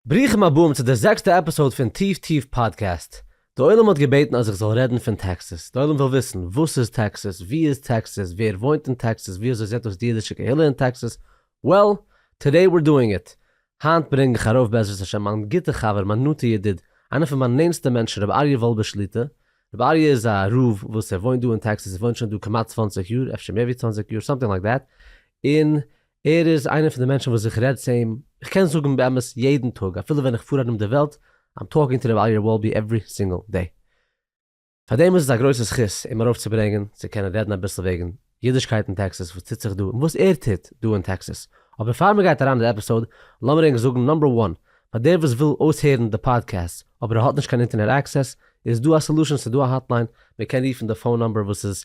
ברוכים הבאים צו די זעקסטע עפיסאוד פון טיף טיף פאדקעסט. די עולם האט געבעטן אז איך זאל רעדן פון טעקסעס. די עולם וויל וויסן, וואס איז טעקסעס? ווי איז טעקסעס? ווער וואוינט אין טעקסעס? ווי אזוי זעט אויס די אידישע קהילה אין טעקסעס? וועל, טאדעי וויר דואינג איט. היינט ברענג איך ארויף בעזרת השם מיין גוטע חבר, מיין נאנטע ידיד, איינער פון מיין נענסטע מענטשן רבי אריה וואלבער שליטא. רבי אריה איז א רב וואס ער וואוינט דא אין טעקסעס, ער וואוינט שוין דא כמעט צוואַנציק יאר, אפשר מער ווי צוואַנציק יאר, סאמטינג לייק דעט, און ער איז איינער פון די מענטשן וואס איך רעד צו אים, איך קען זאגן באמת יעדן טאג אפילו ווען איך פאר ארום די וועלט, I'm talking to ר' אריה וואלבי עוורי סינגל דעי. פארדעם איז עס א גרויסע זכות אים ארויפצוברענגען צו קענען רעדן אביסל וועגן אידישקייט אין טעקסעס וואס טוט זיך דא און וואס ער טוט דא אין טעקסעס. אבער פאר מ'גייט אריין אין די עפיסאוד לאמיר ענק זאגן נאמבער וואן פאר דער וואס וויל אויסהערן די פאדקעסט אבער ער האט נישט קיין אינטערנעט עקסעס איז דא א סעלושען ס'דא א האטליין מ'קען רופן די פאון נאמבער וואס איז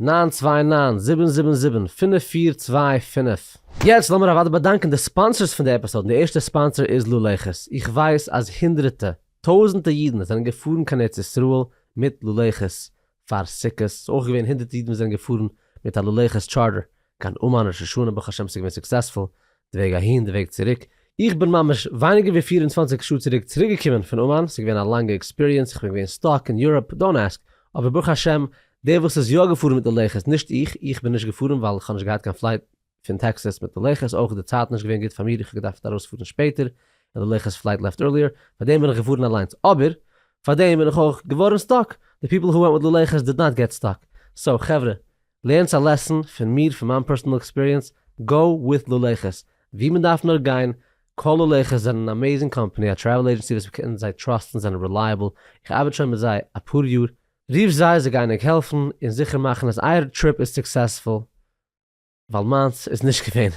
נײַן צוויי נײַן זיבן זיבן זיבן פֿינף פֿיר צוויי פֿינף. יעצט לאמיר אוודאי באדאנקען די ספאנסערס פון די עפיסאד און די ערשטע ספאנסער איז לולייכעס, איך ווייס אז הונדרעטע, טויזענטע אידן זענען געפארן קיין ארץ ישראל מיט לולייכעס פאר סוכות, ס'איז אויך געווען הונדרעטע אידן וואס זענען געפארן מיט א לולייכעס טשארטער קיין אומאן ראש השנה ברוך השם ס'איז געווען סוקסעספול, די וועג אהין די וועג צוריק, איך בין ממש ווייניגער ווי פֿיר און צוואַנציק שעה צוריק צוריקגעקומען פון אומאן, ס'איז געווען א לאנגע עקספיריענס, איך בין געווען סטאק אין יוראפ, דאנט עסק, אבער ברוך השם, דער וואס איז יא געפארן מיט די לוחות, נישט איך, איך בין נישט געפארן ווייל איך האב נישט געהאט קיין פלייט פון טעקסעס מיט די לוחות, אויך איז די צייט נישט געווען גוט פאר מיר, איך האב געדארפט ארויספארן שפעטער, און די לוחות פלייט לעפט ערליער, פארדעם בין איך געפארן אליינס, אבער פארדעם בין איך אויך געווארן סטאק, די פיפל הו ווענט מיט לוחות דיד נאט געט סטאק, סאו חברה, לערנסט א לעסן פון מיר פון מיין פערסענעל עקספיריענס, גאו וויט לולעכעס ווי מען דארף נאר גיין, קאל לולעכעס זענען אן אמעזינג קאמפאני א טרעוול עידזשענסי וואס מען קען זיי טראסטן זענען רילייעבל, איך ארבעט שוין מיט זיי אפאר יאר, רוף זיי זיי גייען ענק העלפן און זיכער מאכן אז אייער טריפ איז סוקסעספול, ווייל מיינס איז נישט געווען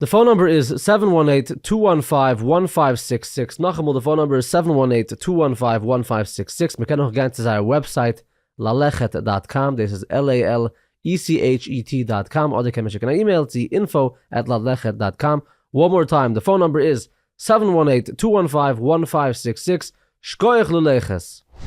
די פאון נומבער איז סעווען וואן עיט טו וואן פייוו וואן פייוו סיקס סיקס, נאכאמאל די פאון נומבער איז סעווען וואן עיט טו וואן פייוו וואן פייוו סיקס סיקס, מען קען אויך גיין צו זייער וועבסייט ללכת דאט קאם דאס איז על עי על אי סי עיטש אי טי דאט קאם אדער קען מען שיקן א אימעיל צו אינפאו עט ללכת דאט קאם, וואן מאר טיים די פאון נומבער איז סעווען וואן עיט טו וואן פייוו וואן פייוו סיקס סיקס, שקויעך ללכת!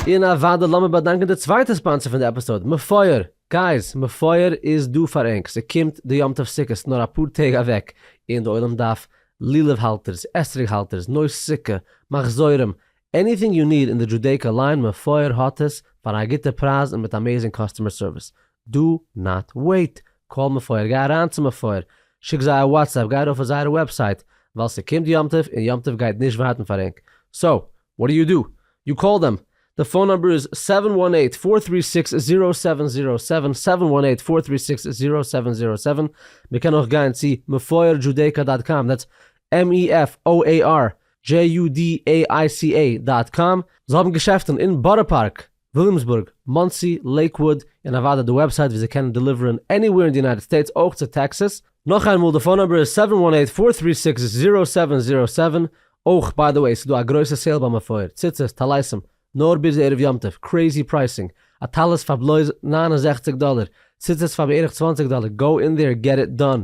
און אוודאי לאמיר באדאנקען די צווייטע ספאנסער פון די עפיסאוד, מפואר! גייז, מפואר איז דא פאר ענק, ס'קומט די יום טוב סוכות נאר אפאר טעג אוועק, און די עולם דארף לולב האלטערס, אתרוג האלטערס, נויס סוכה, מחזורים, עניטינג יו ניד אין די דזשודעיקא ליין, מפואר האט עס פאר א גוטע פרייז און מיט אמעזינג קאסטומער סערוויס, דא נאט וועיט, קאל מפואר, גיי אריין צו מפואר, שיק זיי א וואטסעפפ, גיי ארויף אויף זייערע וועבסייט, ווייל ס'קומט יום טוב און יום טוב גייט נישט ווארטן פאר ענק, סאו וואט דו יו דו, יו קאל דעם, די פאון נומבער איז זיבן וואן אייט פאר טרי סיקס זירא סעווען זירא סעווען, זיבן וואן אייט פאר טרי סיקס זירא סעווען זירא סעווען, מען קען אויך גיין צו מפואר דזשודעיקא דאט קאם, דעטס MeFoar JUDAICA דאט קאם, זיי האבן געשעפטן אין בארא פארק, וויליאמסבורג, מאנסי, לעיקוואוד, און אוודאי די וועבסייט וואו זיי קענען דעליווערן עניוועיר אין די יונייטעד סטעיטס אויך צו טעקסעס. נאך איין מאל די פאון נאמבער איז סעווען וואן עיט פאר טרי סיקס זירא סעווען זירא סעווען, אויך ביי די וועי ס'דא א גרויסע סעיל ביי מפואר, ציצית, טליתים, נאר ביז ערב יום טוב, קרעיזי פרייסינג, א טלית פאר בלויז נײַן און זעכציק דאלער, ציצית פאר בערך צוואַנציק דאלער, גאו אין דעיר געט איט דאן,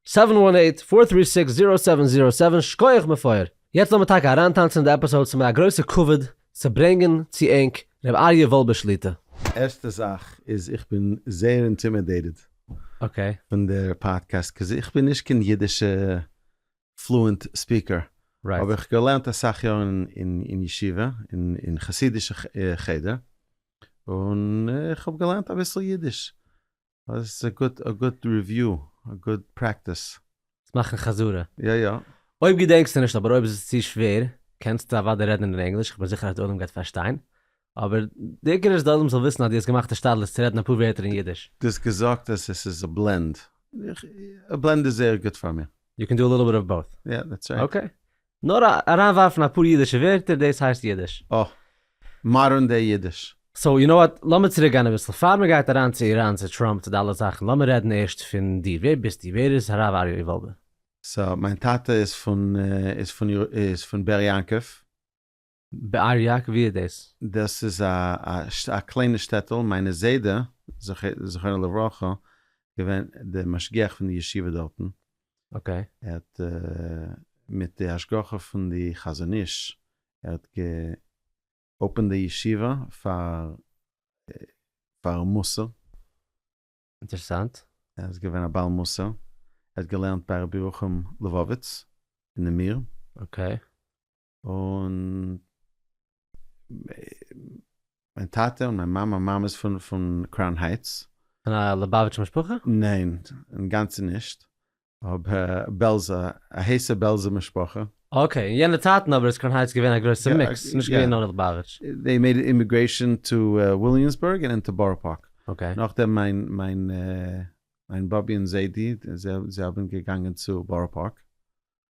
סעווען וואן עיט פאר טרי סיקס זירא סעווען זירא סעווען שקויעך מפואר! יעצט לאמיר טאקע אריינטאנצן אין די עפיסאוד ס'מיר א גרויסע כבוד צו ברענגן צו ענק ר' אריה וואלבער שליטא. ערשטע זאך איז איך בין זייער אינטימעדעיטעד אקעי. פון די פאדקעסט קאוז איך בין נישט קיין אידישע פלוענט ספיקער אבער איך געלערנט אסאך יארן אין ישיבה אין חסידישע חדר און איך האב געלערנט אביסל אידיש עס איז א גוט ריוויו, א גוט פרעקטיס. צו מאכן חזרה. יא יא. אויב געדענקסטו נישט, אבער אויב איז עס צו שווער, קענסטו אוודאי רעדן אין ענגליש, כ'בין זיכער אז די עולם גייט פארשטיין, אבער די עיקר איז די עולם זאל וויסן אז דו האסט געמאכט השתדלות צו רעדן אפאר ווערטער אין אידיש. דו האסט געזאגט אז עס איז א בלענד, א בלענד איז זייער גוט פאר מיר. יו קען דו א ליטל ביט אוו באוט. יא, דעטס רייט. אקעי. נאר אריין ווארפן אפאר אידישע ווערטער דאס הייסט אידיש. אה. מאדערן דעי אידיש. סאו יו נאו וואט, לאמיר צוריק גיין אביסל, פאר מען גייט אריין צו איראן צו טראמפ צו די אלע זאכן, לאמיר רעדן ערשט פון דיר, ווער ביסטו, ווער איז הרב אריה ווילבער? סא מיין טאטע איז פון איז פון איז פון באר יעקב. באר יק ווי איז דאס? דאס איז א קליינע שטעטל, מיינע זיידע זכרונו לברכה איז געווען די משגיח פון די ישיבה דארטן, אקעי. ער האט מיט די השגחה פון די חזון איש ער האט גע אפענד די ישיבה פאר פאר מוסר. אינטערסאנט. ער איז געווען א בעל מוסר, ער האט געלערנט ביי רבי ירוחם לבוביץ אין נמיר. אקעי. און מיין טאטע און מיין מאמע, מיין מאמע איז פון קראון הייטס. פון א ליבאוויטש משפחה? ניין, אינגאנצן נישט. אבער בעלזא, א הייסע בעלזע משפחה. אקעי, אין יענע צייטן אבער איז קראון הייטס געווען א גרויסע מיקס, ס'איז נישט געווען נאר ליבאוויטש. זיי מעיד אימיגרעישאן טו וויליאמסבורג און טו בארא פארק. אקעי. נאכדעם מיין באבי און זיידי, זיי האבן געגאנגען צו בארא פארק.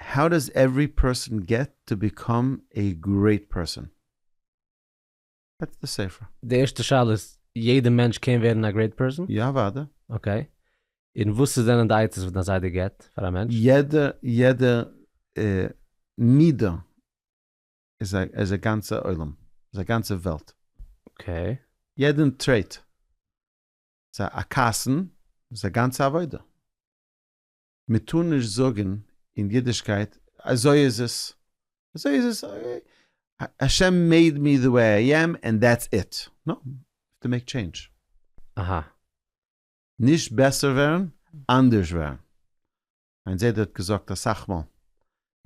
האו דאס עוורי פערסאן געט טו ביקאם עי גרעיט פערסאן? דעטס די ספר. די ערשטע שאלה איז, יעדע מענטש קען ווערן א גרעיט פערסאן? יא אוודאי. אקעי. און וואס איז זענען די עצות וואס דיין זיידע געט פאר א מענטש? יעדע יעדע מידה איז א איז א גאנצע עולם. איז א גאנצע וועלט. אקעי. יעדען טרעיט. איז א א כעסן איז א גאנצע עבודה. מען טאר נישט זאגען אין אידישקייט אזוי איז עס, אזוי איז עס, השם מעיד מי די וועי איי עם ענד דעטס איט, נאו, יו האב טו מעיק טשעינדזש. אהא. נישט בעסער ווערן, אנדערש ווערן. מיין זיידע האט געזאגט אסאך מאל,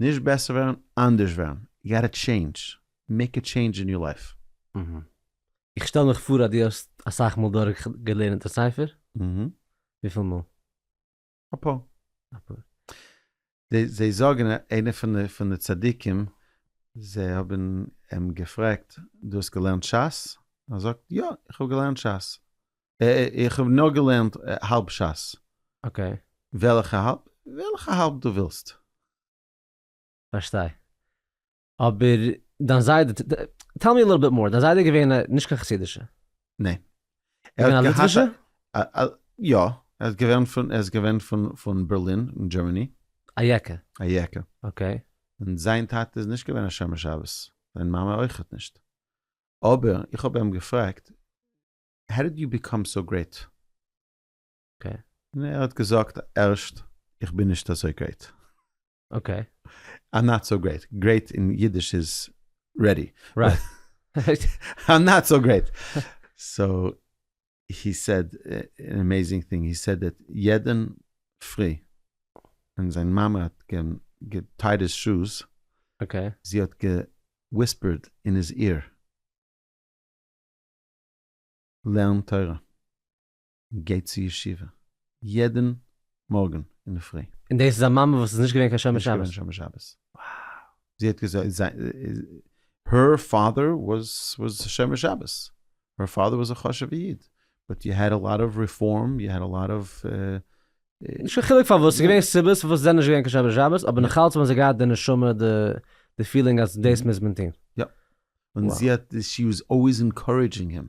נישט בעסער ווערן, אנדערש ווערן. יו גאטע טשעינדזש, מעיק א טשעינדזש אין יור לייף. אהה. איך שטעל מיך פאר אז דו האסט אסאך מאל דורך געלערנט די ספר? אהה. וויפיל מאל? א פאר. א פאר. זיי זיי זאגן איינע פון די פון די צדיקים זיי האבן אים געפרעגט דו האסט געלערנט שס? ער זאגט יא איך האב געלערנט שס. איך האב נאר געלערנט האלב שס. אקעי. וועלכע האלב? וועלכע האלב דו ווילסט. פארשטיי. אבער דיין זיידע, טעל מי א ליטל ביט מאר, דיין זיידע איז געווען א, נישט קיין חסידישע? ניין. ער איז געווען א ליטווישע? יא, ער איז געווען פון, ער איז געווען פון, פון בערלין אין דזשערמעני. א יעקע. א יעקע. אקעי. און זיין טאטע איז נישט געווען א שומר שבת, זיין מאמע אויכעט נישט. אבער איך האב איהם געפרעגט, האו דיד יו ביקאם סאו גרעיט? אקעי. און ער האט געזאגט ערשט איך בין נישט אזוי גרייט. אקעי. איים נאט סאו גרייט, גרייט אין אידיש איז רעדי. רייט. איים נאט סאו גרייט. סאו הי סעד אן עמעיזינג טינג, הי סעד דעט יעדן פרי ווען זיין מאמע האט געטייד היז שוז, אקעי. זי האט געוויספערד אין היז עיר, לערן תורה. גייט צו ישיבה יעדן מארגן אינדערפרי. און דאס איז א מאמע וואס איז נישט געווען קיין שומר שבת? נישט געווען שומר שבת. זי האט געזאגט זיין הער פאדער וואס שומר שבת. הער פאדער וואס א חשובע איד. באט יו העד א לאט אוו ריפארם יו העד א לאט אוו. נישט קיין חילוק פארוואס, ס'איז געווען סיבות פארוואס זיי זענען נישט געווען קיין שומר שבת, אבער נאכאלץ האבן זיי געהאט די נשמה די פילינג אז דאס מוז מען טון. יא. און זי האט, שי וואס אלוועיס אינקארעדזשינג הים.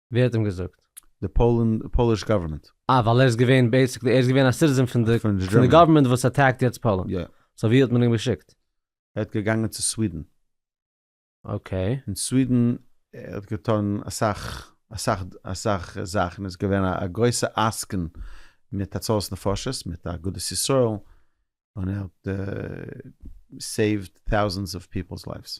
ווער האט אים געזאגט? די פאליש גאווערמענט. אה ווייל ער איז געווען בעיסיקלי ער איז געווען א סיטיזען פון די פון די גאווערמענט וואס אטעקט יעצט פאלענד. יא. סאו ווי האט מען אים געשיקט? ער האט געגאנגען צו סווידען. אקעי. און סווידען ער האט געטון אסאך אסאך אסאך זאכן איז געווען א א גרויסע עסקן מיט הצלת נפשות מיט אגודת ישראל און ער האט סעיווט טאוזענדס אוו פיפעלס לייווס.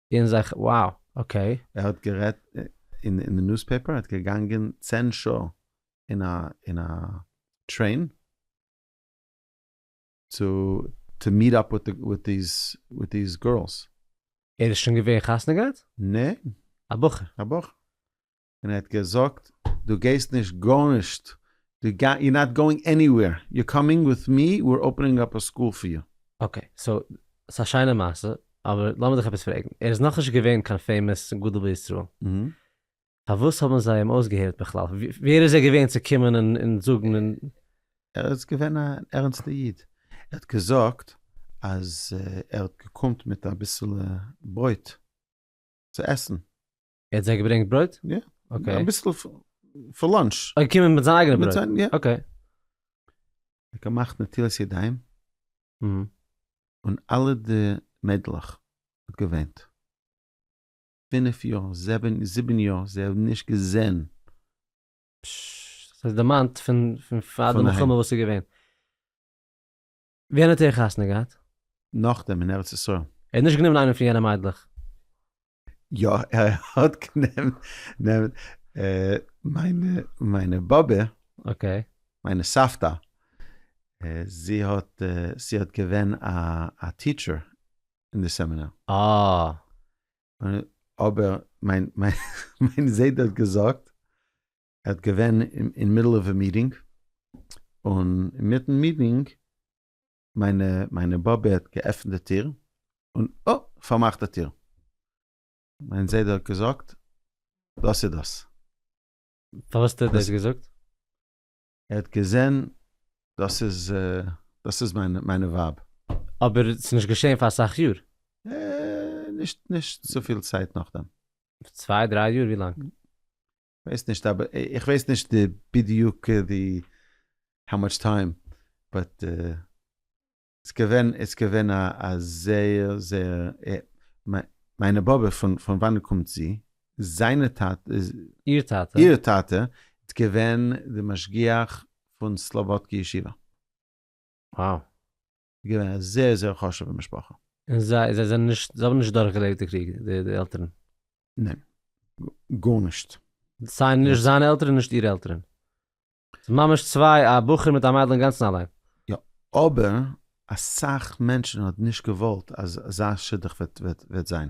און זיך, wow, אקעי. ער האט גערעדט אין די ניוספעפער, ער האט געגאנגען צען שעה אין א אין א טרעין צו טו מיעט אפ וויט דיעז גערלס. ער איז שוין געווען חתונה געהאט? נע. א בחור. א בחור. און ער האט געזאגט דו גייסט נישט גארנישט, דו גיי, יו נאט גאוינג עניווער, יו קאמינג וויט מי, ווער אפענינג אפ א סקול פאר יו. אקעי, סאו ס'א שיינע מעשה, אבער לאמיר דיך עפעס פרעגן, ער איז נאכנישט געווען קיין פעימאס גדול בישראל, פארוואס האבן זיי אים אויסגעהערט בכלל? ווער איז ער געווען צו קומען און זאגן און. ער איז געווען א ערענסטע איד, ער האט געזאגט אז ער האט געקומט מיט אביסעלע ברויט צו עסן, ער האט זיי געברענגט ברויט? יא. אקעי. אביסל פאר לאנטש. ער איז געקומען מיט זיין אייגענע ברויט? מיט זיין, יא. אקעי. ער האט געמאכט נטילת ידיים. אהמ. און אלע די מיידלעך האט געוויינט. פינף יאר, זעבען, זיבען יאר, זיי האבן נישט געזען. פששש. דאס איז דערמאנט פון פאר די מלחמה וואס איז געווען. ווען האט ער חתונה געהאט? נאכדעם אין ארץ ישראל. ער האט נישט גענומען איינע פון יענע מיידלעך? יא ער האט גענומען מיינע באבע, אקעי. מיינע סבתא, זי האט זי האט געווען א טיטשער אין די סעמינאר. אה. אבער מיין זיידע האט געזאגט ער האט געווען אין מידל אוו א מיטינג, און אינמיטן מיטינג, מיינע מיינע באבע האט געעפנט די טיר, און אה! פארמאכט די טיר. מיין זיידע האט געזאגט, דאס איז דאס. פארוואס האט ער דאס געזאגט? ער האט געזען, דאס איז דאס איז מיינע מיינע ווייב. אבער ס'איז נישט געשען פאר אסאך יאר? אה, נישט נישט צופיל צייט נאכדעם. צוויי דריי יאר? ווי לאנג? כ'ווייס נישט אבער איך ווייס נישט די בדיוק די האו מאטש טיים באט איז געווען איז געווען א זייער זייער מיינע באבע פון פון וואנען קומט זי? זיינע טאטע? איר טאטע? איר טאטע איז געווען די משגיח פון סלובודקי ישיבה. וואו. איז געווען א זעהר זעהר חשובע משפחה. און זיי זיי זענען נישט זיי האבן נישט דורך געלעבט די קריג די די עלטערן? ניין. גארנישט. סיי נישט זיינע עלטערן נישט אירע עלטערן. ס'איז ממש צוויי א בחור מיט א מיידל אינגאנצן אליין. יא אבער אסאך מענטשן האט נישט געוואלט אז אזא שידוך וועט וועט וועט זיין.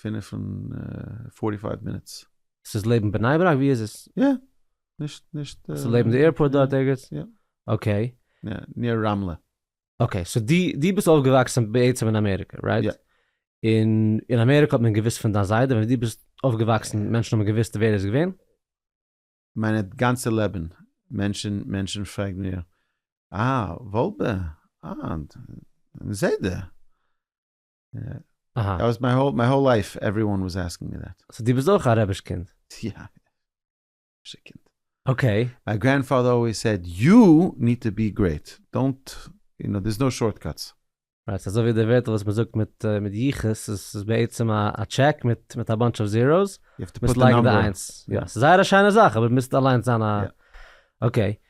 פֿינף און פֿאָרטי פֿײַװ מינוטס. ס'איז לעבן בני ברק? ווי איז עס? יא, נישט נישט. ס'איז לעבן די עירפארט דארט ערגעץ? יא. אקעי. יא, ניר רמלה. אקעי, סאו די די ביסט אויפגעוואקסן בעצם אין אמעריקע, רייט? יא. און אין אמעריקע האט מען געוויסט פון דיין זיידע ווען די ביסט אויפגעוואקסן מענטשן האבן געוויסט ווער ער איז געווען? מיין גאנצע לעבן מענטשן מענטשן פרעגן מיר אה וואלבע אה זיידע אהא. מיין האול לייף עווריוואן וואס אסקינג מי דעט. סאו דו ביסט אויך א רביש קינד? יא. רבישע קינד. אקעי. מיי גרענדפאדער אלוועיס סעד יו ניד טו בי גרעיט, דאנט, יו נאו, דער'ס נאו שארט קאטס. רייט, ס'אזוי ווי די ווערטל וואס מ'זאגט מיט יחוס, ס'איז בעצם א טשעק מיט א באנטש אוו זיראוס, מ'מוז לייגן די איינס. יא, ס'איז זייער א שיינע זאך, אבער מ'מוז אליינס זיין א. אקעי.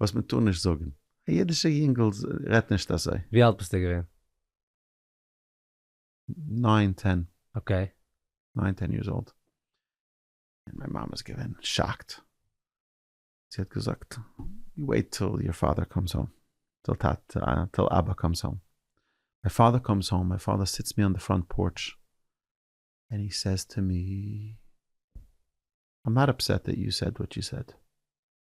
וואס מען טאר נישט זאגן. א אידישע יונגל רעדט נישט אזוי. ווי אלט ביסטו געווען? ניין טען. אקעי. ניין טען יערס אולד. און מיין מאמע איז געווען שאקט. זי האט געזאגט, וועיט טיל יור פאדער קאמס האום. טיל טאטע, טיל אבא קאמס האום. מיין פאדער קאמס האום, מיין פאדער זיצט מיר אן די פראנט פארטש, און הי סעיז טו מי, איים נאט אפסעט דעט יו סעד וואט יו סעד.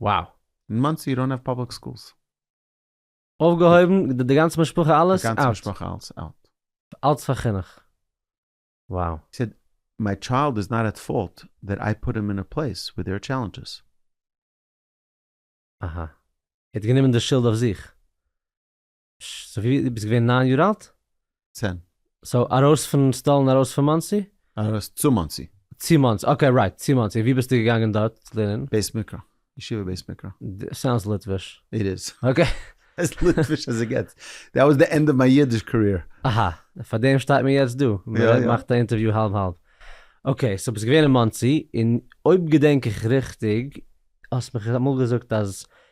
וואו? אין מאנסי דאון האוו פאבליק סקולס. אויפגעהויבן? די גאנצע משפחה אלעס אוט? די גאנצע משפחה אלעס אוט. אלץ פאר חינוך. וואו. הי סעד, מיי טשיילד איז נאט עט פאלט דעט איי פוט הים אין א פלעיס וויר דער אר טשעלענדזשעס. אהא. ער האט גענומען די שולד אויף זיך. סאו ווי ביסט געווען ניין יאר אלט? צען. סאו ארויס פון סטאלין ארויס פון מאנסי? ארויס צו מאנסי. צו מאנסי, אקעי רייט, צו מאנסי, און ווי ביסטו געגאנגען דארט לערנען? בית מקרא, ישיבה בית מקרא. סאונדס ליטוויש. איט איז. אקעי. עז ליטוויש עז איט געטס. דעט וואס די ענד אוו מיי אידיש קאריער. אהא, פאר דעם שטייט מען יעצט דא, מען מאכט א אינטערוויו האלב האלב. אקעי, סאו ביסט געווען אין מאנסי, און אויב געדענק איך ריכטיג, האסט מיך אמאל געזאגט אז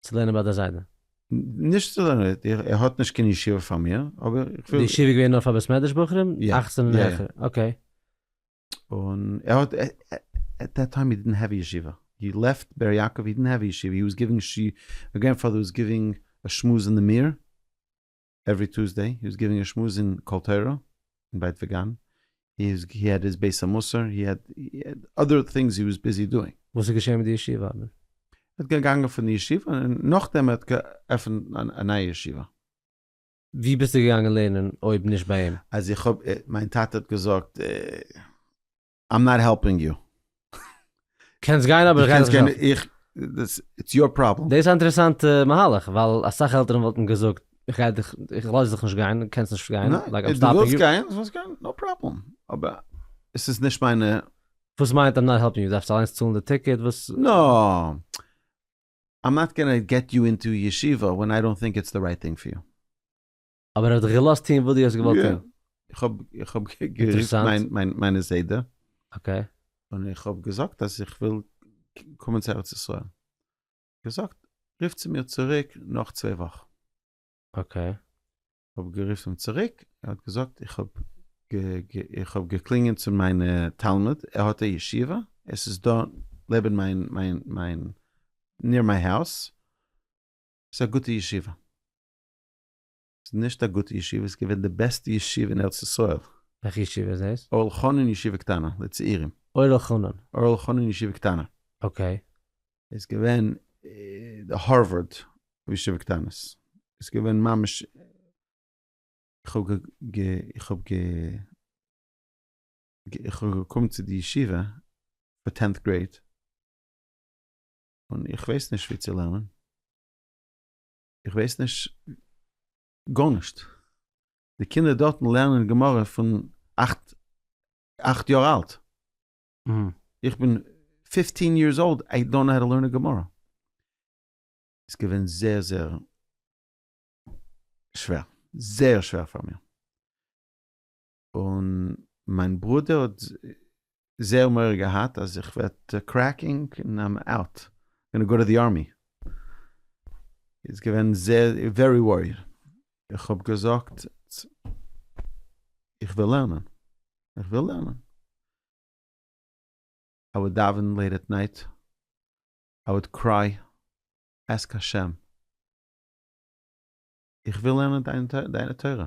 צו לערנען ביי דער זיידע? נישט צו לערנען, ער האט נישט קיין ישיבה פאר מיר, אבער איך וויל. די ישיבה איז געווען נאר פאר בית מדרש בחורים? יא. אכצן און העכער, אקעי. און ער האט, עט דעט טיים הי דידנט העוו א ישיבה, הי לעפט באר יעקב, הי דידנט העוו א ישיבה, הי וואס גיווינג, מיי גרענדפאדער וואס גיווינג א שמועס אין די מיר. עוורי טוסדעי הי איז גיווינג א שמועס אין קול תורה און בית וגן, הי איז הי העד היז בית המוסר, הי העד אדער טינגס הי וואס ביזי דואינג. וואס איז געשען מיט די ישיבה אדמור? ער האט געגאנגען פון די ישיבה און נאכדעם ער האט געעפענט א נייע ישיבה. ווי ביסטו געגאנגען לערנען אויב נישט ביי אים? אז איך האב, מיין טאטע האט געזאגט. איים נאט העלפינג יו. קענסט גיין אבער איך גיי דיך נישט העלפן. איטס יור פראבלעם. דאס איז א אינטערעסאנטע מהלך ווייל אסאך עלטערן וואלטן געזאגט איך גיי דיך איך לאז דיך נישט גיין דו קענסט נישט גיין לייק איים סטאפינג יו. ניין דו ווילסט גיין נאו פראבלעם אבער עס איז נישט מיינע. וואס מיינט איים נאט העלפינג יו דארפסט אליינס צאלן די טיקעט וואס. נא. איים נאט גאנא געט יו אינטו ישיבה ווען איי דאנט טינק איטס די רייט טינג פאר יו. אבער ער האט דיך געלאזט טון וואס דו האסט געוואלט טון? יא, איך האב גערופן מיינע זיידע, און איך האב געזאגט אז איך וויל קומען צו ארץ ישראל, געזאגט רוף צו מיר צוריק נאך צוויי וואך. אקעי. כ'האב גערופן צוריק, ער האט געזאגט איך האב איך האב געקלינגען צו מיינע תלמיד, ער האט א ישיבה, עס איז דא לעבן מיין מיין מיין ניר מיי האוז, ס'איז א גוטע ישיבה. ס'איז נישט א גוטע ישיבה, ס'איז געווען די בעסטע ישיבה אין ארץ ישראל. וועלכע ישיבה איז דאס? אור אלחנן ישיבה קטנה, לצעירים. אור אלחנן. אור אלחנן ישיבה קטנה. אקעי. איז געווען די הארווארד פון ישיבה קטנות. איז געווען ממש איך האב איך האב גע איך האב געקומען צו די ישיבה פאר טענט גרעיד, און איך ווייס נישט ווי צו לערנען. איך ווייס נישט גארנישט. די קינדער דארטן לערנען גמרא פון אכט אכט יאר אלט. איך בין פיפטין יערס אולד, איי דאנט נאו האו טו לערן א גמרא. איז געווען זייער זייער שווער. זייער שווער פאר מיר. און מיין ברודער האט זייער מורא געהאט אז איך וועט קרעקינג און איים אוט, גאנע גאו טו די ארמי, איז געווען זייער ווערי וואריד, איך האב געזאגט איך וויל לערנען, איך וויל לערנען, איי וואלד דאווען לעיט עט נייט, איי וואלד קריי, עסק השם, איך וויל לערנען דיינע תורה.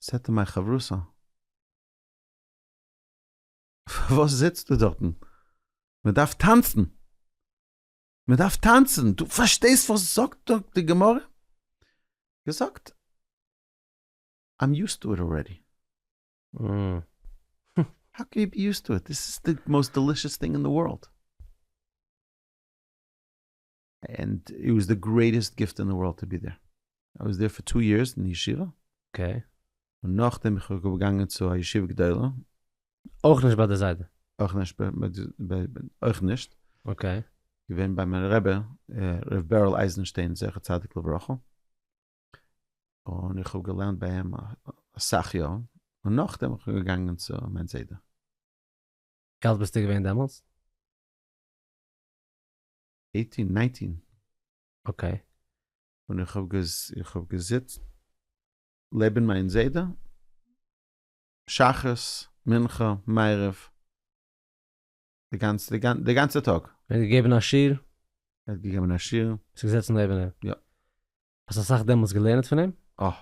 סעטע מיין חברותא. פארוואס זיצטו דארטן? מען דארף טאנצן! מען דארף טאנצן! דו פארשטייסט וואס זאגט דא די גמרא? געזאגט, איים יוזט טו איט אלרעדי. האו קען יו בי יוזט טו איט? דאס איז די מאוסט דעלישעס טינג אין די ווארלד. ענד איט וואס די גרעיטעסט גיפט אין די ווארלד טו בי דער, איי וואס דער פאר טו יערס אין ישיבה, אקעי, און נאכדעם איך בין געגאנגען צו א ישיבה גדולה, אויך נישט ביי די זיידע? אויך נישט ביי די זיידע, אויך נישט, אקעי, געווען ביי מיין רבי ר' בערל אייזנשטיין זכר צדיק לברכה, און איך האב געלערנט ביי אים אסאך יאר, און נאכדעם איך בין געגאנגען צו מיין זיידע. ווי אלט ביסטו געווען דעמאלטס? עיטין נייטין. אקעי. און איך האב איך האב געזיצט לעבן מיין זיידע שחרית מנחה מעריב די גאנצע די גאנצע טאג. ער האט געגעבן א שיעור? ער האט געגעבן א שיעור. ביסט געזעצן לעבן אים? יא. האסט אסאך דעמאלטס געלערנט פון אים? אה.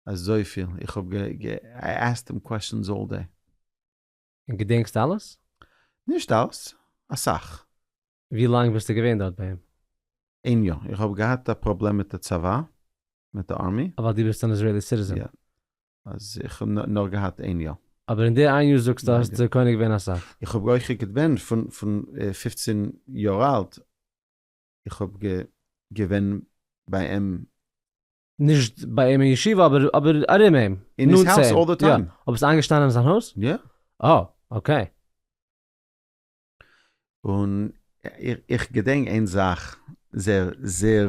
אזויפיל. איך האב געעסקט אים קוועשאנס אלל דעי. און געדענקסט אלעס? נישט אלעס, אסאך. ווי לאנג ביסטו געווען דארט ביי אים? איין יאר. איך האב געהאט א פראבלעם מיט די צבא, מיט די ארמי. ווייל דו ביסט אן איזראעלי סיטיזען? יא. אז איך האב נאר געהאט איין יאר. אבער אין די איין יאר זאגסטו האסטו קונה געווען אסאך. איך האב אויך געדבענט פון פון פופצין יאר אלט, איך האב געווען ביי אים נישט ביי אים אין ישיבה אבער אבער ארום אים, אין היז נאנט צו האוז אים, אלל די יא. טיים. אויב ביסט איינגעשטאנען אין זיין הויז? יא. אה, אקעי. און איך געדענק איין זאך זייער זייער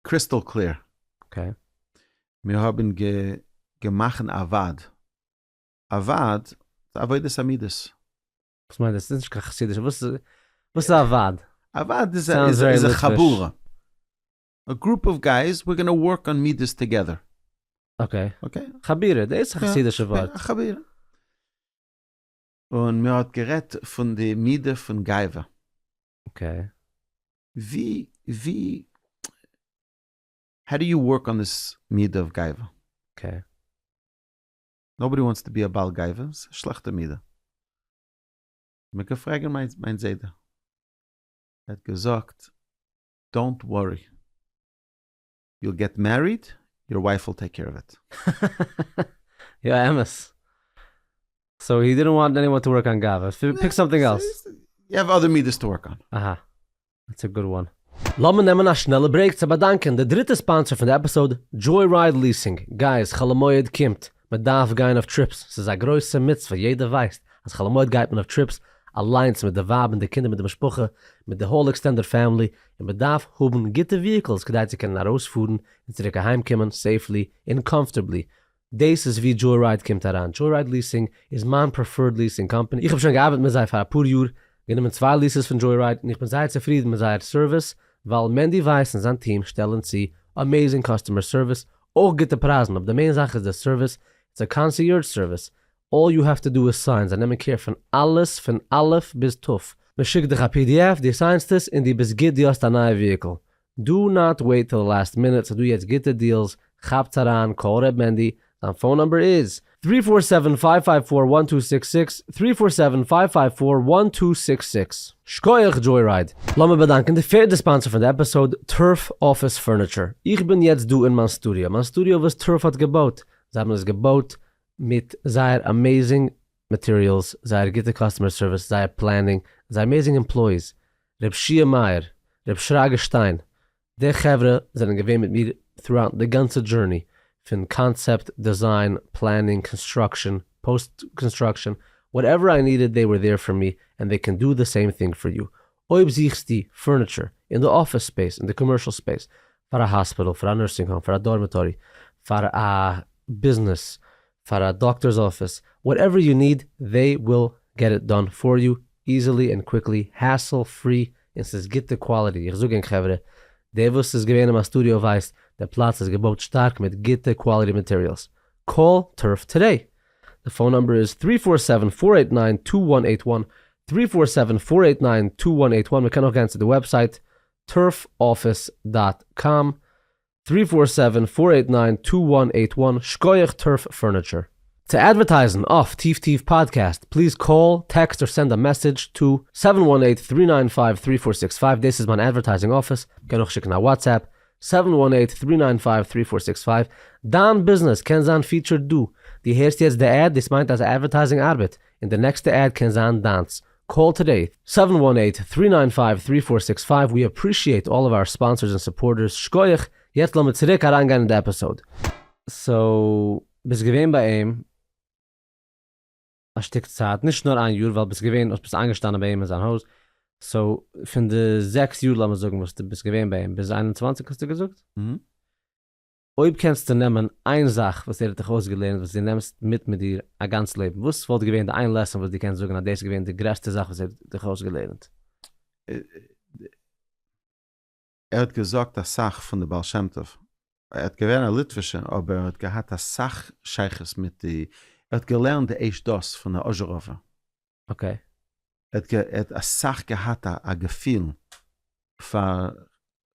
קריסטאל קלער. אקעי. מיר האבן געמאכן א ועד. א ועד איז עבודת המידות. וואס מיינט דאס? דאס איז נישט קיין חסידישע, וואס איז א ועד? א ועד איז א חבורה. א גרופ אוו גייס וויר גאנא ווארק אן מידות טאגעדער. אקעי. חבירה, דאס איז א חסידישע ווארט. א חבירה. און מען האט גערעדט פון די מידה פון גאווה. אקעי. ווי ווי האו דו יו ווארק אן דיס מידה אוו גאווה. אקעי. נאובאדי וואנטס טו בי א בעל גאווה, ס'איז א שלעכטע מידה. מ'קען פרעגן מיין זיידע. ער האט געזאגט. דאונט ווארי. יאל געט מעריד, יור ווייף וויל טעיק קעיר אוו איט. יא אמת. סאו הי דידנט וואנט עניוואן טו ווארק אן גאווה. פיק סאמטינג עלס. יו האוו אדער מידות טו ווארק אן. אהא. דעטס א גוד וואן. לאמיר נעמען א שנעלע ברעיק צו באדאנקען די דריטע ספאנסער פון די עפיסאוד, דזשוי רייד ליעסינג. גייז, חול המועד קומט. מען דארף גיין אויף טריפס, ס'איז א גרויסע מצוה, יעדער ווייסט אז חול המועד גייט מען אויף טריפס אליינס מיט די ווייב און די קינדער מיט די משפחה, מיט די האול עקסטענדעד פעמילי, און מען דארף האבן גוטע וויהיקלס כדי צו קענען ארויספארן און צוריק אהיים קומען סעיפלי און קאמפארטעבלי, דאס איז ווי דזשוי-רייד קומט אריין, דזשוי-רייד ליעסינג איז מיין פרעפערד ליעסינג קאמפעני, איך האב שוין געארבעט מיט זיי פאר אפאר יאר, גענומען צוויי ליעסעס פון דזשוי-רייד, און איך בין זייער צופרידן מיט זייער סערוויס, ווייל מענדי ווייס און זיין טיעם שטעלן צו אמעזינג קאסטומער סערוויס אויך גוטע פרייזן, אבער די מעין זאך איז די סערוויס, איטס א קאנסיערדזש סערוויס, אלל יו העוו טו דא איז סיין, זיי נעמען קעיר פון אלעס פון א' ביז ת', מען שיקט דיך א פי די עף, דו סיינסט עס, און דו ביסט גוט דו האסט א נייע וויהיקל, דא נאט וועיט טיל די לאסט מינוט, ס'איז דא יעצט גוטע דיעלס, כאפטס אריין, קאל ר' מענדי, זיין פאון נומבער איז. טרי פאר סעווען פייוו פייוו פאר וואן טו סיקס סיקס, טרי פאר סעווען פייוו פייוו פאר וואן טו סיקס סיקס. שקויעך דזשוי-רייד! לאמיר באדאנקען די פערדע ספאנסער פון די עפיסאוד, טורף אפיס פורניטשור. איך בין יעצט דא אין מיין סטודיאו, מיין סטודיאו וואס טורף האט געבויט. זיי האבן עס געבויט מיט זייער אמעזינג מאטעריאלס, זייער גוטע קאסטומער סערוויס, זייער פלענינג, זייער אמעזינג עמפלויאיס, ר' שיע מאיר, ר' שרגא שטיין, די חברה זענען געווען מיט מיר throughout די גאנצע דזשורני, פון קאנצעפט, דעזיין, פלענינג, קאנסטראקשען, פאוסט קאנסטראקשען, וואטעווער איי נידעד דעי ווער דעיר פאר מי ענד דעי קען דא די סעים טינג פאר יו, אויב זוכסטו פורניטשער אין די אפיס ספעיס, אין די קאמערשעל ספעיס, פאר א האספיטעל, פאר א נורסינג האום, פאר א דארמעטארי, פאר א ביזנעס, פאר א דאקטארס אפיס, וואטעווער יו ניד זיי וויל געט איט דאן פאר יו איזילי ענד קוויקלי, העסל פרי און ס'איז גוטע קוואליטי, איך זאג ענק חברה, דער וואס איז געווען אין מיין סטודיאו ווייסט, דער פלאץ איז געבויט שטארק מיט גוטע קוואליטי מאטעריעלס, קאל טרף טודעי, די פאון נומבער איז טרי פאר סעווען פאר עיט ניין טו וואן עיט וואן, טרי פאר סעווען פאר עיט ניין טו וואן עיט וואן, מ'קען אויך גיין צו די וועבסייט turfoffice דאט קאם טרי פאר סעווען פאר עיט ניין טו וואן עיט וואן שקויעך טורף פורניטשער. צו אדווערטייזן אויף טיף טיף פאדקעסט פליז קאל, טעקסט אר סענד א מעסעדזש טו סעווען וואן עיט טרי ניין פייוו טרי פאר סיקס פייוו דאס איז מיין אדווערטייזינג אפיס, קען אויך שיקן א וואטסעפפ, סעווען וואן עיט טרי ניין פייוו טרי פאר סיקס פייוו דיין ביזנעס קען זיין פיטשערד דא, דו הערסט יעצט די עד דאס מיינט אז אדווערטייזינג ארבעט, און די נעקסטע עד קען זיין דיינס, קאל טודעי, סעווען וואן עיט, טרי ניין פייוו, טרי פאר סיקס פייוו, ווי אפרישיעט אלל אוו אר ספאנסערס און סופארטערס, שקויעך, יעצט לאמיר צוריק אריינגיין אין די עפיסאוד. סאו ביסט געווען ביי אים א שטיק צייט, נישט נאר איין יאר, ווייל ביסט געווען האסט ביסט איינגעשטאנען ביי אים אין זיין הויז, סאו פון די זעקס יאר לאמיר זאגן וואס די ביסט געווען ביי אים, ביז איין און צוואנציג האסטו געזאגט? אויב קענסטו נעמען איין זאך וואס ער האט דיך אויסגעלערנט וואס דו נעמסט מיט מיט דיר א גאנץ לעבן, וואס וואלט געווען די איין לעסאן וואס דו קענסט זאגן אז דאס איז געווען די גרעסטע זאך וואס ער האט דיך אויסגעלערנט? ער האט געזאגט אסאך פון די בעל שם טוב, ער האט געווען א ליטווישער אבער ער האט געהאט אסאך שייכות מיט די, ער האט געלערנט די עש דת פון די אזשעראווער. אקעי. ער האט אסאך געהאט א געפיל פאר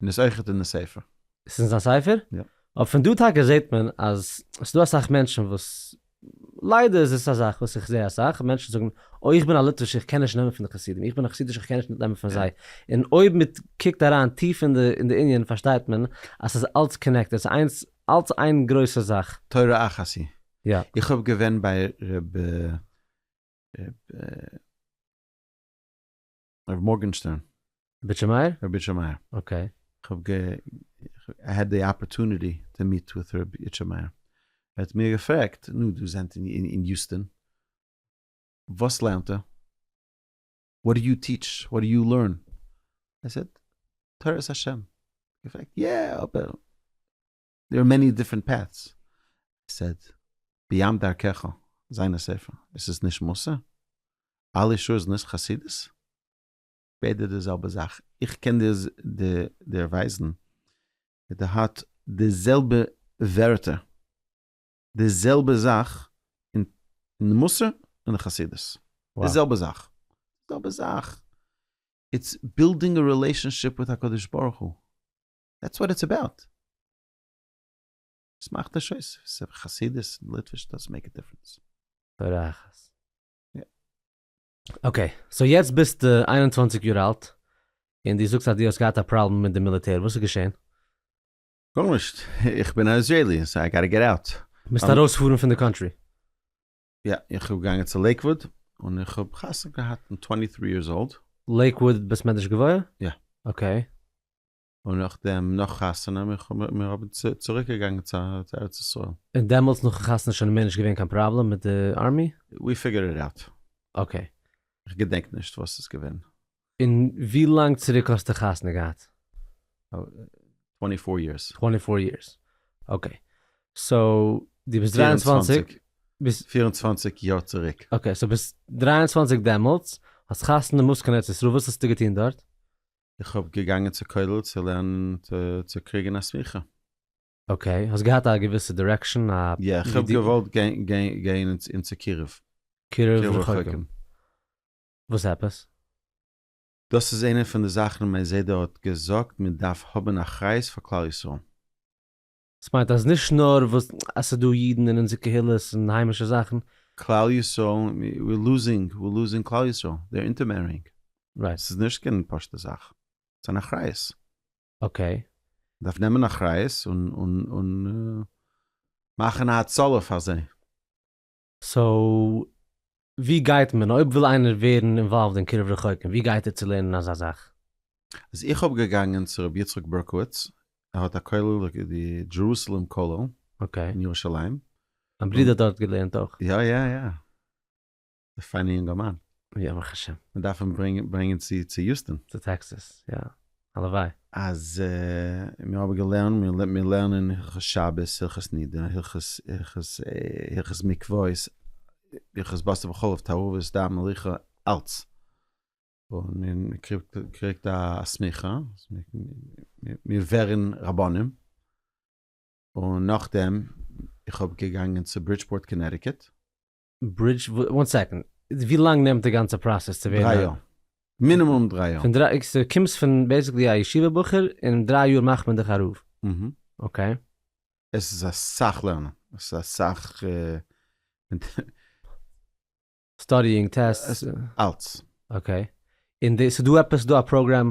און איז אויכעט אין די ספר. עס איז אין זיין ספר? יא. אבער פון דא טאקע זעט מען אז עס איז דא אסאך מענטשן וואס, ליידער איז עס א זאך וואס איך זע אסאך, מענטשן זאגן, אוי איך בין א ליטווישער איך קען נישט נעמען פון די חסידים, איך בין א חסידישער איך קען נישט נעמען פון זיי, און אויב מען קוקט אריין טיף אין די אין די ענין פארשטייט מען אז עס איז אלץ קאנעקטעד, עס איז איינס אלץ איין גרויסע זאך. תורה אחת היא. יא. איך האב געווען ביי ר' ר'. הרב מארגענשטערן. ביטשע מאיר? רבי איטשע מאיר. אקעי. כ'האב גע. איי העד די אפערטוניטי טו מיעט וויט רבי איטשע מאיר. ער האט מיר געפרעגט, נו, דו זענט אין יוסטאן, וואס לערנט ער? וואט דו יו טיטש? וואט דו יו לערן? איי סעד, תורת השם. געפרעגט, יא, אבער. דער איז מעני דיפרענט פעטס, ער סעד ביהמ ד דרכך זיין א ספר, עס איז נישט מוסר? אלי שור איז נישט חסידות? ביידע די זעלבע זאך, איך קען דיר ווייזן ווי די האט די זעלבע ווערטער די זעלבע זאך אין מוסר און אין חסידות, די זעלבע זאך, זעלבע זאך, איטס בילדינג א רילעישאנשיפ וויט הקדוש ברוך הוא. דעטס וואט איטס אבאוט. וואס מאכט נישט אויס ס'איז חסידות און ליטוויש דאזענט מעיק א דיפרענס. בארעכעס. אקעי, סאו יעצט ביסטו איין און צוואַנציק יאר אלט, און דו זאגסט אז דו האסט געהאט א פראבלעם מיט די מיליטער, וואס איז געשען? גארנישט, איך בין א איזרעילי, סאו איי גאטע געט אוט. מוזט ארויספארן פון די קאנטרי. יא, איך בין געגאנגען צו לעיקוואוד און איך האב חתונה געהאט מיט טווענטי טרי יערס אולד. לעיקוואוד בית מדרש גבוה? יא. אקעי. און נאכדעם נאך חתונה מיר האבן צוריק געגאנגען צו ארץ ישראל. און דעמאלטס נאכן חתונה שוין מער נישט געווען קיין פראבלעם מיט די ארמי? ווי פיגערד איט אוט. אקעי. איך געדענק נישט וואס ס'איז געווען. און ווי לאנג צוריק האסטו חתונה געהאט? טווענטי פאר יערס. טווענטי פאר יערס, אקעי. סאו דו ביסט דרײַ און צוואַנציק. ביסט. פיר און צוואנציג יאר צוריק. אקעי, סאו ביסט דרײַ און צוואַנציק דעמאלטס, האסט חתונה מוז קיין ארץ ישראל, וואס האסטו געטון דארט? איך האב געגאנגען צו כולל צו לערנען צו קריגן א סמיכה. אקעי, האסט געהאט א געוויסע דירעקשאן? א. יא, איך האב געוואלט גיין אין צו קירוב. קירוב רחוקים. וואס עפעס? דאס איז איינע פון די זאכן מיין זיידע האט געזאגט מען דארף האבן אחריות פאר כלל ישראל. עס מיינט אז נישט נאר וואס עס איז דא אידן אין אונזער קהילות און היימישע זאכן. כלל ישראל ווי לוזינג ווי לוזינג כלל ישראל דער אינטערמערינג רייט ס'איז נישט קיין פשוטע זאך ס'איז אן אחריות. אקעי. דארף נעמען אחריות און און און מאכן א הצלה פאר זיי. סאו ווי גייט מען אויב וויל איינער ווערן אינוואלווד אין קירוב רחוקים ווי גייט ער צו לערנען אזא זאך? אז איך האב געגאנגען צו רבי יצחק ברקוביץ ער האט א כולל די דזשערוסעלעם כולל אין אקעי. ירושלים. מיין ברודער האט דארט געלערנט אויך. יא יא יא. א פיינע יונגערמאן. יא ברוך השם. מ'דארף אים ברענגען צו יוסטאן. צו טעקסעס יא. הלוואי. אז מיר האבן געלערנט, מיר לערנען הלכות שבת, הלכות נידה, הלכות מקוואות, הלכות בשר בחלב, תערובות, דם, מריחה, אלץ. און מען קריגט א סמיכה, מיר ווערן רבנים. און נאכדעם, איך האב געגאנגען צו ברידזשפארט קאנעטיקעט. ברידזש וואן סעקאנד, ווי לאנג נעמט די גאנצע פראסעס צו ווערן א? דריי יאר, מינימום דריי יאר. פון דריי, סאו קומסט פון בעיסיקלי א ישיבה בחור און אין דריי יאר מאכט מען דיך א רב? אהה. אקעי. עס איז אסאך לערנען, עס איז אסאך. סטאדיאינג, טעסטס. אלץ. אקעי. און דאס איז דא עפעס דא א פראגראם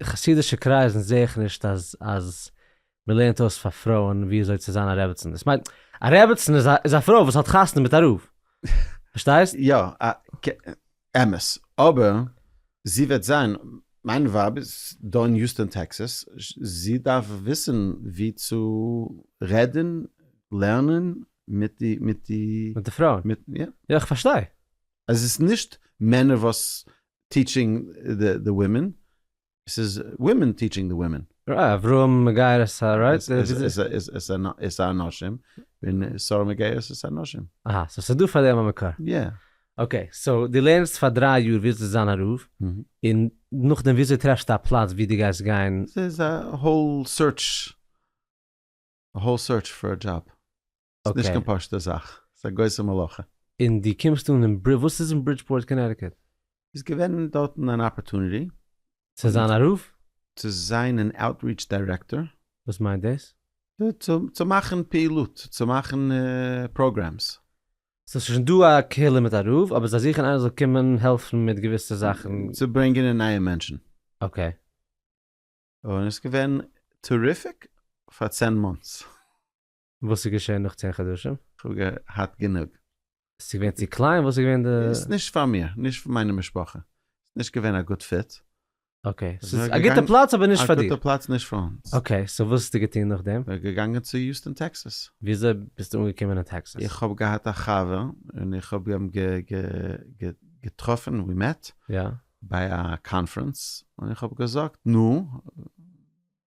אין חסידישע קרייזן זעה איך נישט אז אז מען לערנט אויס פאר פרויען ווי אזוי צו זיין א רעבעצן, איך מיין א רעבעצן איז א איז א פרוי וואס האט חתונה מיט א רב, פארשטייסט? יא, א כ, אמת, אבער זי וועט זיין, מיין ווייב איז דא אין יוסטאן טעקסעס, זי דארף וויסן ווי צו רעדן, לערנען, מיט די מיט די מיט די פרויען, מיט יא. יא איך פארשטיי. אז עס איז נישט מענער וואס טיטשינג די ווימען, ס'איז ווימען טיטשינג די ווימען. ר אברהם מגיירס א רייט? עס א נשים, און שרה מגיירס עס א נשים. אהא, סאו ס'איז דא פאר דעם א מקור. יא. אקעי, סאו די לערנסט פאר דריי יאר ווילסט די זיין א רב, און נאכדעם וויאזוי טרעפסטו א פלאץ ווי די גייסט גיין? ס'איז א האול סוירטש, א האול סוירטש פאר א דזשאב. ס'איז נישט קיין פשוט'ע זאך. ס'איז א גרויסע מלאכה. און דו קומסט אן אין ברידזש, וואס איז אין ברידזשפארט קאנעטיקעט? איז געווען דארטן אן אפערטוניטי. צו זיין א רב? צו זיין אן אוטריטש דירעקטאר. וואס מיינט דאס? צו מאכן פעילות, צו מאכן פראגרעמס. סאו ס'איז שוין דא א קהילה מיט א רב, אבער זיי זוכן איינער זאל קומען העלפן מיט געוויסע זאכן. צו ברענגען נייע מענטשן. אקעי. און עס איז געווען טעריפיק פאר צען מאנטס. וואס איז געשען נאך צען חדשים? כ'האב געהאט גענוג. ס'איז געווען צו קליין? וואס איז געווען די. ס'איז נישט פאר מיר, נישט פאר מיינע משפחה. ס'איז נישט געווען א גוט פיט. אקעי, ס'איז א גוטע פלאץ אבער נישט פאר דיר. א גוטע פלאץ נישט פאר אונז. אקעי, סאו וואס האסטו געטון נאכדעם? כ'בין געגאנגען צו יוסטאן טעקסאס. וויאזוי ביסטו אנגעקומען אין טעקסאס? איך האב געהאט א חבר און איך האב אים געטראפן, ווי מעט, ביי א קאנפרענס, און איך האב געזאגט, נו,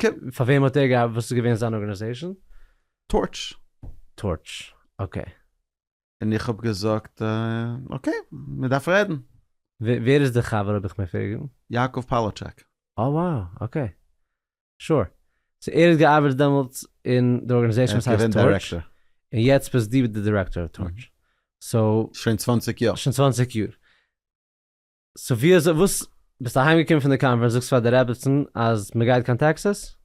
ק. פאר וועם האט ער געארבעט? וואס איז געווען זיין ארגענעזעישן? טארטש. טארטש, אקעי. און איך האב געזאגט אקעי, מען דארף רעדן. ווער איז די חבר אויב איך מעג פרעגן? יעקב פאלאטשעק. אה וואו, אקעי. שור. סאו ער האט געארבעט דעמאלטס אין די ארגענעזעישן וואס הייסט טארטש. ער איז געווען דירעקטאר. און יעצט ביסט דו די דירעקטאר אויף טארטש. סאו. שוין צוואנציג יאר. שוין צוואנציג יאר. סאו ווי אזוי וואס ביסט אהיים געקומען פון די קאנפרענס זאגסט פאר די רעבעצן אז מען גייט קיין טעקסעס?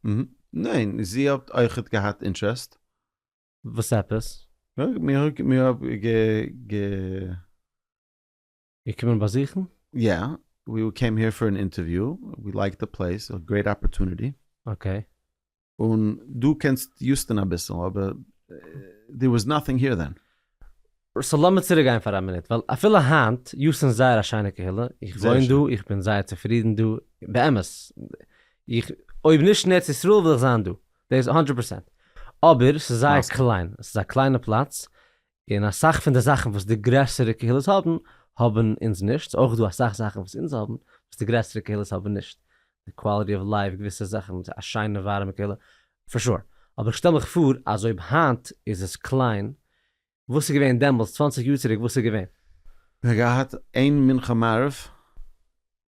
ניין זי האט אויכעט געהאט אינטרעסט. וואס עפעס? מיר האב מיר האב גע. געקומען באזוכן? יא ווי קעים העיר פאר אן אינטערוויו ווי לייקד די פלעיס גרעיט אפערטוניטי. אקעי. און דו קענסט יוסטאן אביסל, אבער דעיר וואס נאטינג העיר דען. סאו לאמיר צוריק גיין פאר א מינוט, ווייל אפילו היינט, יוסטאן איז זייער א שיינע קהילה, איך וואוין דא, איך בין זייער צופרידן דא, באמת, איך, אויב נישט אין ארץ ישראל וויל איך זיין דא, דאס האנדרעט פערסענט, אבער ס'איז זייער קליין, ס'איז א קליינע פלאץ, און אסאך פון די זאכן וואס די גרעסערע קהילות האבן, האבן אונז נישט, ס'איז אויך דא אסאך זאכן וואס אונז האבן וואס די גרעסערע קהילות האבן נישט, די קוואליטי אוו לייף, געוויסע זאכן, א שיינע ווארעמע קהילה, פאר שור, אבער איך שטעל מיך פאר אז אויב היינט איז עס קליין, וואס איז געווען דעמאלטס צוואַנציק יאר צוריק וואס איז געווען? זיי האבן געהאט איין מנחה מעריב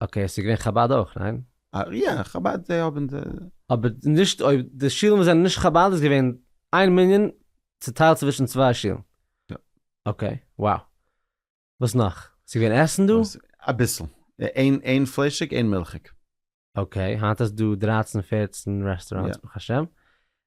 אקעי עס איז געווען חבד אויך ניין? יא חבד זיי האבן די. אבער נישט אויב די שילן וואס זענען נישט חבד איז געווען איין מנין צוטיילט צווישן צוויי שילן. יא. אקעי wow וואס נאך? ס'איז געווען עסן דא? אביסל. איין איין פליישיג איין מילכיג. אקעי היינט האסט דא דרייצן פערצן רעסטוראנטס ברוך השם.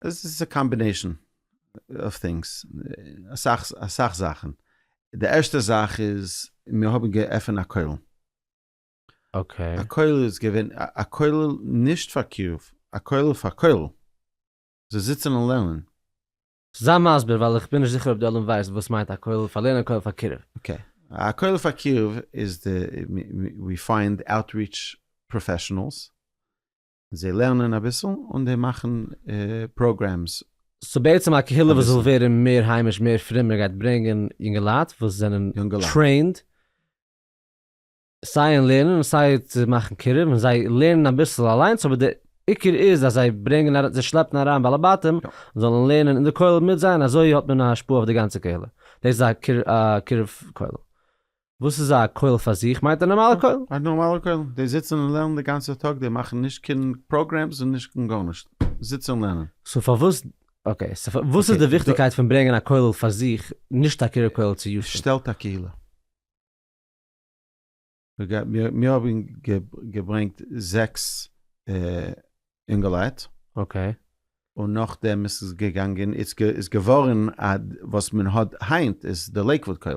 עס איז א קאמבינעישאן אוו טינגס, אסאך אסאך זאכן, די ערשטע זאך איז מיר האבן געעפענט א כולל, אקעי, א כולל איז געווען א כולל נישט פאר קירוב, א כולל פאר כולל, זיי זיצן און לערנען. זיי מסביר ווייל איך בין נישט זיכער אויב די עולם ווייסט וואס מיינט א כולל פאר לערנען א כולל פאר קירוב. אקעי, א כולל פאר קירוב איז די ווי פיינד אוטריטש פראפעשענעלס זיי לערנען אביסל און זיי מאכן פראגרעמס. סאו בעצם א קהילה וואס וויל ווערן מער היימיש מער פרומער גייט ברענגען יונגעלייט וואס זענען טרעינד סיי אין לערנען און סיי צו מאכן קירוב און זיי לערנען אביסל אליינס אבער די עיקר איז אז זיי ברענגען אריין זיי שלעפן אריין בעלי בתים זאלן לערנען אין די כולל מיט זיי און אזוי האט מען א השפעה אויף די גאנצע קהילה דאס איז א קירוב כולל. וואס איז א כולל פאר זיך? מיינט א נארמאלע כולל? א נארמאלע כולל, די זיצן און לערנען די גאנצע טאג, די מאכן נישט קיין פראגרעמס און נישט קיין גארנישט, זיצן און לערנען. סאו פארוואס, אקעי, סאו וואס איז די וויכטיגקייט פון ברענגען א כולל פאר זיך, נישט א קירוב כולל צו ישוב? שטעלט א קהילה. מיר האבן געברענגט זעקס אינגעלייט. אקעי. און נאכדעם איז עס געגאנגען, איז געווארן א, וואס מען האט היינט איז די לעיקוואוד כולל.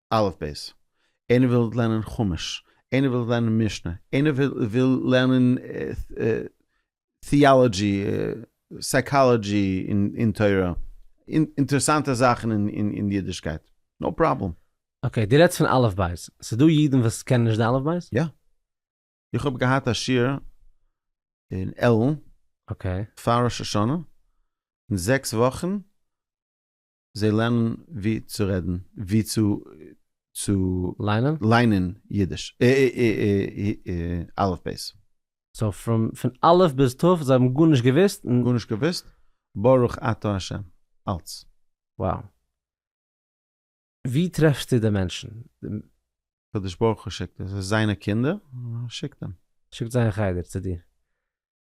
אלף בית, איינער וויל לערנען חומש, איינער וויל לערנען משנה, איינער וויל לערנען טיאלאגי, סייקאלאגי אין תורה, אינטערעסאנטע זאכן אין אידישקייט, נאו פראבלעם. אקעי, דו רעדסט פון אלף בית, ס'איז דא אידן וואס קענען נישט די אלף בית? יא. איך האב געהאט א שיעור אין עלען פאר ראש השנה, אין זעקס וואכן זיי לערנען ווי צו רעדן, ווי צו צו ליינען? ליינען אידיש, אלף בית. סאו פרום פון אלף ביז ת' זיי האבן גארנישט געוויסט? גארנישט געוויסט, ברוך אתה השם, אלץ. וואו? ווי טרעפסטו די מענטשן? הקדוש ברוך הוא שיקט, עס איז זיינע קינדער, ער שיקט אים. שיקט זיי אין חדר צו דיר.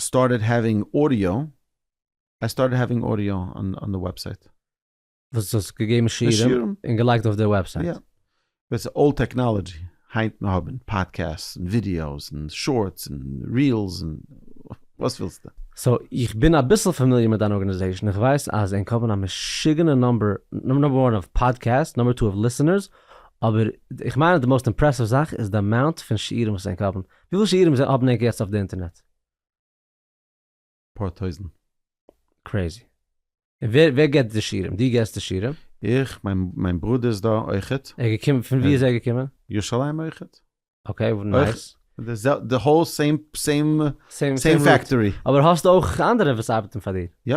סטארטעד העווינג אודיאו, איי סטארטעד העווינג אודיאו אן די וועבסייט. וואס האסט געגעבן שיעורים און געלייגט אויף די וועבסייט? יא. דאס איז אולד טעקנאלעדזשי, היינט מיר האבן פאדקעסטס און ווידיאוס און שארטס און רילס און וואס ווילסטו. סאו איך בין אביסל פאמיליער מיט דיין ארגענעזעישן, איך ווייס אז ענק האבן א משוגענע נומבער, נומבער וואן אוו פאדקעסטס, נומבער טו אוו ליסענערס, אבער איך מיין אז די מאוסט אימפרעסיוו זאך איז די אמאונט פון שיעורים וואס ענק האבן, וויפיל שיעורים זענען אפנעק יעצט אויף די אינטערנעט? אפאר טויזנט. קרעזי. און ווער ווער געבט די שיעורים? דו געסט די שיעורים? איך, מיין מיין ברודער איז דא אויכעט. ער איז געקומען, פון ווי איז ער געקומען? ירושלים אויכעט. אקעי, נייס. די זעל די האול סעים סעים סעים פעקטארי. אבער האסט אויך אנדערע וואס ארבעטן פאר דיר? יא.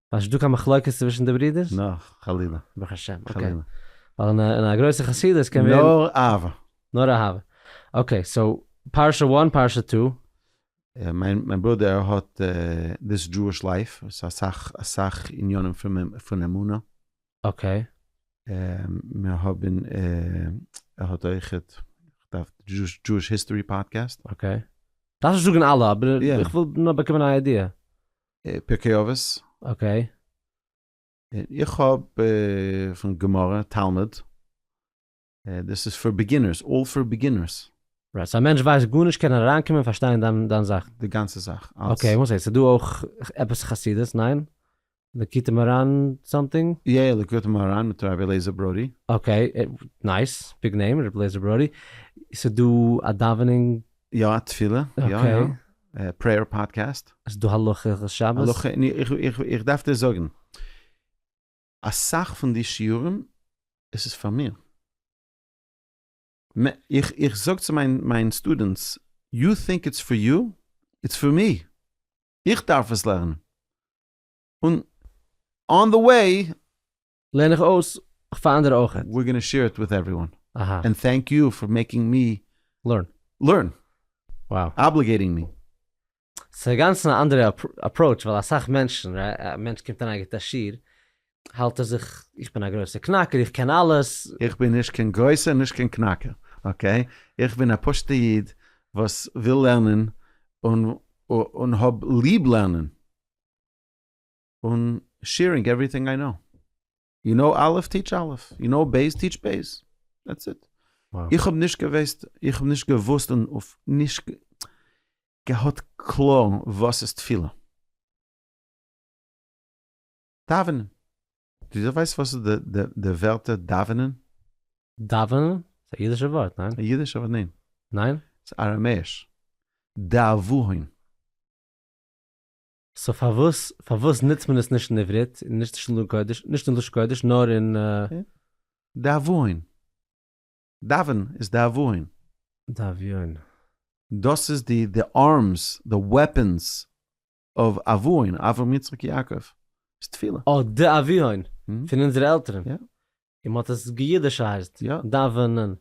איז דא קיין מחלוקת צווישן די ברידערס? נא, חלילה. ברוך השם, אקעי. חלילה. ווייל אין א גרויסע חסידות קען ווערן. נאר אהבה. נאר אהבה. אקעי, סאו פרשה וואן, פרשה טו. מיין מיין ברודער האט דיס דזשואיש לייף, ס'איז אסאך אסאך עניינים פון פון אמונה. אקעי. מיר האבן ער האט אויכעט כ'דארף דזשואיש היסטארי פאדקעסט. אקעי. דארפסט נישט זאגן אלע, אבער איך וויל נאר באקומען א איידיע. פרקי אבות. אקעי. איך האב פון גמרא, תלמוד. דאס איז פאר ביגינערס, אלל פאר ביגינערס. רייט, סאו א מענטש ווייסט גארנישט קען אריינקומען און פארשטיין דיין זאך? די גאנצע זאך, אלס. אקעי, וואס הייסט? ס'דא אויך עפעס חסידות, ניין? ליקוטי מוהראן סאמטינג? יא יא, ליקוטי מוהראן מיט רבי אליעזר ברודי. אקעי, נייס, ביג נעים, רבי אליעזר ברודי. ס'דא א דאווענען יא א תפילה, יא יא, פרעיער פאדקעסט. איז דא הלכות שבת? איך דארף דיר זאגן, אסאך פון די שיעורים עס איז פאר מיר. איך זאג צו מיין סטודענטס, יו טינק איטס פאר יו, איטס פאר מי, איך דארף עס לערנען, און אן די וועי לערן איך אויס פאר אנדערע אויך. ווער גאנע שעיר איט וויט עווריוואן. אהא. ענד טענק יו פאר מעקינג מי. לערן. לערן. וואו. אבליגעיטינג מי. ס'איז אגאנצן א אנדערע אפראוטש ווייל אסאך מענטשן ר ה א מענטש קומט אריין גיבט א שיעור האלט ער זיך איך בין א גרויסע קנאקער איך קען אלעס. איך בין נישט קיין גרויסע און נישט קיין קנאקער אקעי איך בין א פשוטע איד וואס וויל לערנען און און האב ליב לערנען. און שעירינג עווריטינג איי קנאו. יו קנאו א' טיטש א', יו קנאו ב' טיטש ב'. דעטס איט. איך האב נישט געוועסט, איך האב נישט געוואוסט און נישט געהאט קלאר וואס איז תפילה. דאווענען. די ווייסט וואס איז די ווערטער דאווענען? דאווענען? ס'איז א אידישע ווארט, ניין? א אידישע ווארט? ניין. ניין? ס'איז אראמעיש. דאוועהן. סאו פארוואס פארוואס נוצט מען עס נישט אין עברית און נישט נישט אין קודש נישט אין לשון קודש נאר אין. דאבון. דאווען איז דאבון. דאביון. דאס איז די די ארמס די וועפענס אוו אבוהון אברהם יצחק יעקב איז תפילה. אה דאביון פון אונזערע עלטערן. יא. און מען האט עס געידישייזד. יא. דאווענען.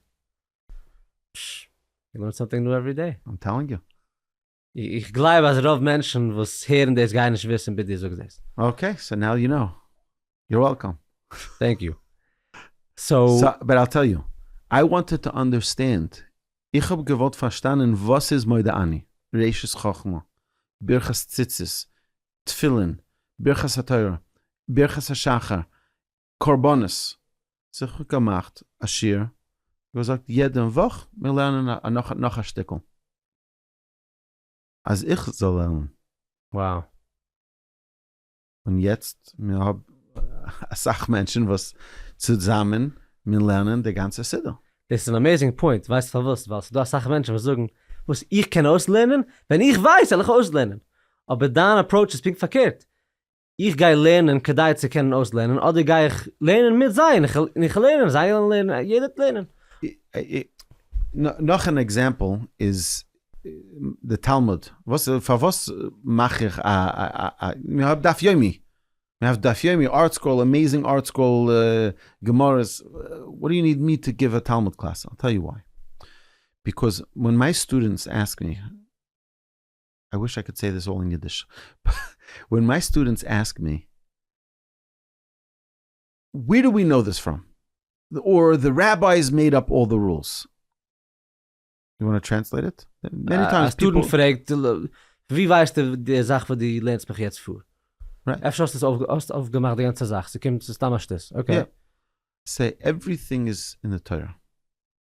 פש. יו לערן סאמטינג ניו עווערי דעי. איים טעלינג יו. איך גלייב אז רוב מענטשן וואס הערן דאס גייען נישט וויסן ביז דו זאגסט דאס. אקעי, סאו נאו יו נאו. יור וועלקאם. טענק יו. סאו. סאו, באט איל טעל יו. איי וואנטעד טו אנדערסטענד, איך האב געוואלט פארשטאנען וואס איז מודה אני, ראשית חכמה, ברכת ציצית, תפילין, ברכת התורה, ברכת השחר, קרבנות. זיך אפגעמאכט א שיעור, געזאגט יעדע וואך מיר לערנען נאך א שטיקל. אז איך זאל לערנען. וואו. און יעצט מיר האב אסאך מענטשן וואס צוזאמען מיר לערנען די גאנצע סידור. דאס איז אן אמעיזינג פוינט, ווייסט פארוואס? ווייל ס'דא אסאך מענטשן וואס זאגן, וואס, איך קען אויסלערנען? ווען איך ווייס וועל איך אויסלערנען! אבער דיין אפראוטש איז פונקט פארקערט, איך גיי לערנען כדי צו קענען אויסלערנען אדער גיי איך לערנען מיט זיי און איך לערן און זיי וועלן לערנען און יעדער וועט לערנען. נאך אן עקזעמפל איז די תלמוד, פארוואס מאך איך א א מען האט דף יומי, מען האט דף יומי, ארטסקרול, עמעיזינג ארטסקרול, גמרות, וואט דו יו ניד מי טו גיוו א תלמוד קלאס, איל טעל יו וויי, ביקאוז ווען מיי סטודענטס עסק מי, איי וויש איי קאד סעי דיס אלל אין אידיש, ווען מיי סטודענטס עסק מי וועיר דו ווי קנאו דיס פראם, אר די רעבייס מעיד אפ אלל די רולס, יו וואנט טו טרענסלעיט איט? מעני טיימס פיפל. א סטודענט פרעגט, ווי ווייסטו די זאך וואס דו לערנסט מיך יעצט פאר? אפשר האסט עס אויפגעמאכט די גאנצע זאך, ס'קומט ס'איז סתם א שטות, אקעי. סעי עווריטינג איז אין די תורה.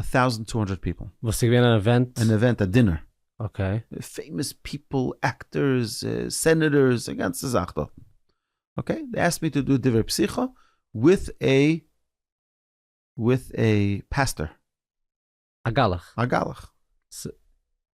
א טאוזענט טו האנדרעט פיפל. וואס איז געווען אן עווענט? אן עווענט א דינער. אקעי. פעימאס פיפל, עקטערס, סענעטערס, א גאנצע זאך דארט. אקעי, דעי עסקד מי טו דא דברי פסיכא וויט א וויט א פעסטער. א גלח. א גלח.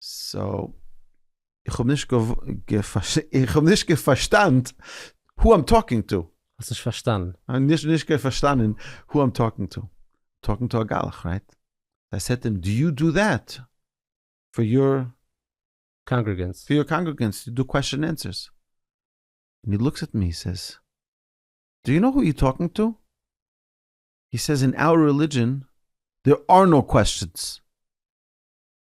סאו איך האב נישט איך האב נישט געפארשטאנט הו איים טאלקינג טו. האסט נישט פארשטאנען? נישט נישט געפארשטאנען הו איים טאלקינג טו. טאלקינג טו א גלח רייט? איי סעד טו הים דו יו דו דעט פאר יור קאנגרעגענס? פאר יור קאנגרעגענס דו קוועסטשען ענסערס? און הי לוקס עט מי הי סעיז דו יו נאו הו יו טאלקינג טו? הי סעיז אין אור רעלידזשען דער אר נאו קוועסטשענס.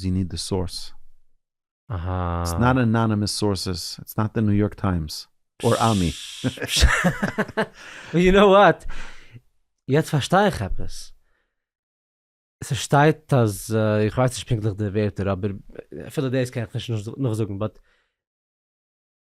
זי ניד די סאורס. אהא. איטס נאט אנאנימעס סאורסעס, איטס נאט די ניו יארק טיימס, אור עמי. יו נאו וואט, יעצט פארשטיי איך עפעס. ס'שטייט אז, איך ווייס נישט פונקטליך די ווערטער אבער אפילו דאס קען איך נישט נאכזאגן באט.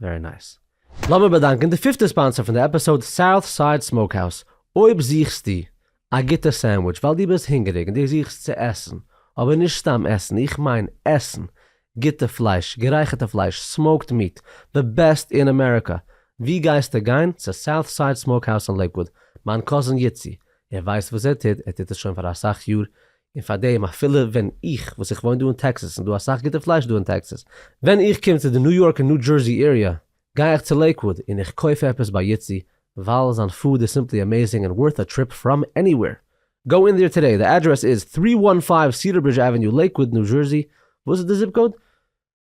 ווערי נייס. לאמיר באדאנקען די פיפטע ספאנסער פון די עפיסאוד סאוט סייד סמאוקהאוז, אויב זוכסטו א גוטע סענדוויטש ווייל דו ביסט הונגעריג און דו זוכסט צו עסן, אבער נישט סתם עסן, איך מיין עסן גוטע פלייש, גערייכערטע פלייש, סמאוקד מיעט, די בעסט אין אמעריקא, ווי גייסטו גיין? צו סאוט סייד סמאוקהאוז אין לעיקוואוד, מיין קאזין יצי, ער ווייסט וואס ער טוט, ער טוט עס שוין פאר אסאך יאר, און פארדעם אפילו ווען איך וואס איך וואוין דא אין טעקסעס און דא אסאך גוטע פלייש דא אין טעקסעס, ווען איך קום צו די ניו יארק און ניו דזשערסי עיריע גיי איך צו לעיקוואוד און איך קויף עפעס ביי יצי ווייל זיין פוד איז סימפלי אמעזינג און ווארט א טריפ פראם עניוועיר. גאו אין דעיר טודעי, די אדרעס איז תרי וואן פייוו סידער ברידזש עוועניו לעיקוואוד ניו זשערסי, וואס איז די זיפ קאוד?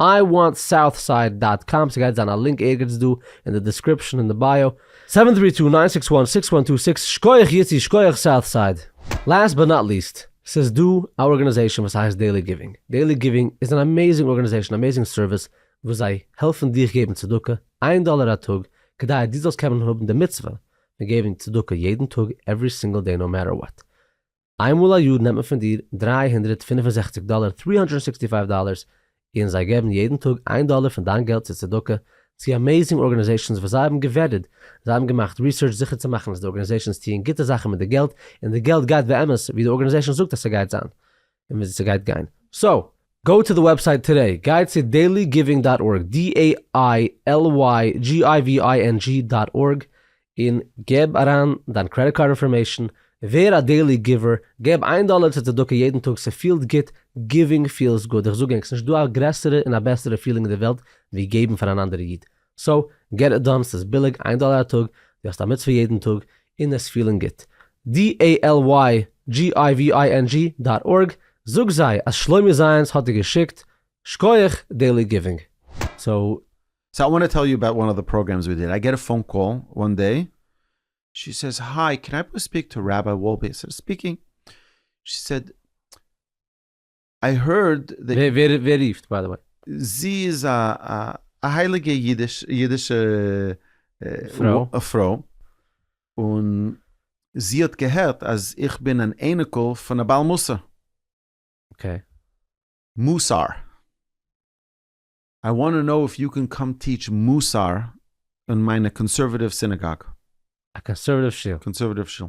איי וואנט סאוט סייד דאט קאם ס'גייט זיין א לינק ערגעץ דא אין די דעסקריפשן אין די בייאו. סעווען טרי טו ניין סיקס וואן סיקס וואן טו סיקס שקויעך יוסי שקויעך סאוט סייד. לאסט באט נאט ליסט, ס'איז דא א ארגאניזעישאן וואס הייסט דעילי גיווינג, דעילי גיווינג איז אן אמעיזינג ארגאניזעישאן אמעיזינג סערוויס וואס זיי העלפן דיך געבן צדקה איין דאלער א טאג כדי אז דו זאלסט קענען האבן די מצוה פון געבן צדקה יעדן טאג עווערי סינגל דעי נאו מעטער וואט. איינמאל א יאר נעמט מען פון דיר דרײַ הונדערט פֿינף און זעכציק דאלער, three hundred and sixty five dollars, און זיי געבן יעדן טאג איין דאלער פון דיין געלט צו צדקה צו אמעיזינג ארגענעזעישאנס וואס זיי האבן געוועדעד, זיי האבן געמאכט ריסערטש זיכער צו מאכן אז די ארגענעזעישאנס טוען גוטע זאכן מיט די געלט, און די געלט גייט באמת ווי די ארגענעזעישאן זאגט אז ס'גייט זיין, און וואו ס'גייט גיין. סאו, גאו טו דע וועבסייט טודעי, גיי צו דעילי גיווינג דאט ארג, DAILYGIVING דאט ארג, און גיב אריין דיין קרעדיט קארד אינפארמעישן, ווער א דעילי גיווער, געב איין דאלער צו צדקה יעדן טאג, ס'פילט גוט, גיווינג פיעלס גוד, איך זאג ענק, ס'נישט דא א גרעסערע און א בעסערע פיעלינג אין די וועלט ווי געבן פאר אן אנדערע איד, סאו געט איט דאן, ס'איז ביליג איין דאלער א טאג, דו האסט א מצוה יעדן טאג, און עס פילן גוט. dalygivining דאט ארג, זאג זיי אז שלומי זיינס האט דיר געשיקט, שכוח דעלי גיווינג. סאו. סאו איי וואנט טו טעל יו אבאוט וואן אוו די פראגרעמס ווי דיד, איי געט א פאון קאל וואן דעי, שי סעיז היי קען איי פליז ספיק טו ראביי וואלפיס ספיקינג, שי סעיד, איי הערד דעט. ווער רופט ביי די וועי? זי איז א א הייליגע אידיש אידישע פרוי, און זי האט געהערט אז איך בין אן אייניקל פון א בעל מוסר. אקעי. מוסר. איי וואנט טו נאו איף יו קען קאם טיטש מוסר און מיינע קאנסערוואטיוו סינעגאג. א קאנסערוואטיוו שול. קאנסערוואטיוו שול.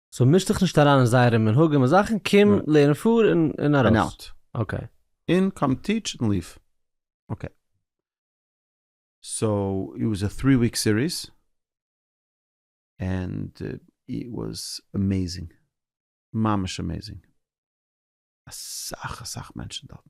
סאו מיש דיך נישט אריין אין זייערע מנהגים און זאכן, קום לערן פאר און ארויס. אקעי. און קאם טיטש און ליוו. אקעי. סאו איט וואס א טרי וויק סיריס, ענד איט וואס אמעזינג. ממש אמעזינג. אסאך אסאך מענטשן דארטן.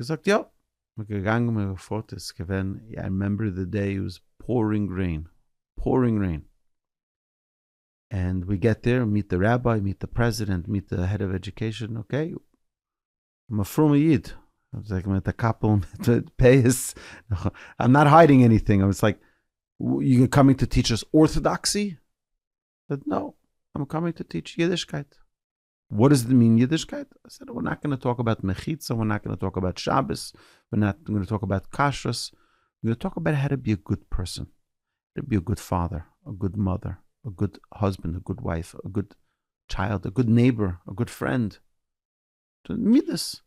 געזאגט יא! מען געגאנגען מען געפארט איז געווען איי רימעמבער די דעי איט וואס פאורינג רעין פאורינג רעין ענד ווי געט דעיר מיט די ראביי מיט די פרעזידענט מיט די העד אוו עדיוקעישאן אקעי אן א פרומע איד זעהט מען מיט א קאפל מיט פאות איים נאט היידינג עניטינג אבער סאיז לייק יו קאמינג טו טיטש אס ארטאדאקסי? סעד נאו איים קאמינג טו טיטש אידישקייט. וואט איז די מין אידישקייט? סא ווער נאט גאנא טאלק אבאוט מחיצה, ווער נאט גאנא טאלק אבאוט שבת, ווער נאט גאנא טאלק אבאוט כשרות, ווער גאנא טאלק אבאוט האו טו בי א גוד פערסאן, האו טו בי א גוד פאדער, א גוד מאדער, א גוד האזבענד, א גוד ווייף, א גוד טשיילד, א גוד נעיבאר, א גוד פרענד, מידות,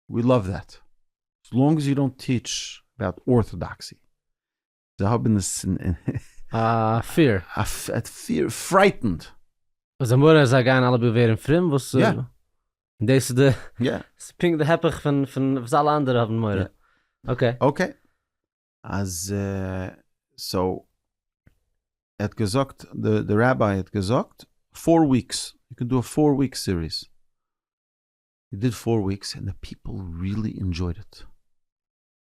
ווי לאוו דעט, עס לאנג עס יו דאנט טיטש אבאוט ארטאדאקסי, זיי האבן עס אין א פיר. פיר פרייטענד. אז די מורא אז זיי גייען אלע ווערן פרום וואס. יא. דאס איז די. יא. ס'איז פונקט די הפך פון פון וואס אלע אנדערע האבן מורא. אקעי. אקעי. אז סאו ער האט געזאגט די ראביי האט געזאגט פאר וויקס יו קען דא א פאר וויקס סיריס. הי דיד פאר וויקס און די פיפל ריעלי אינדזשויד איט.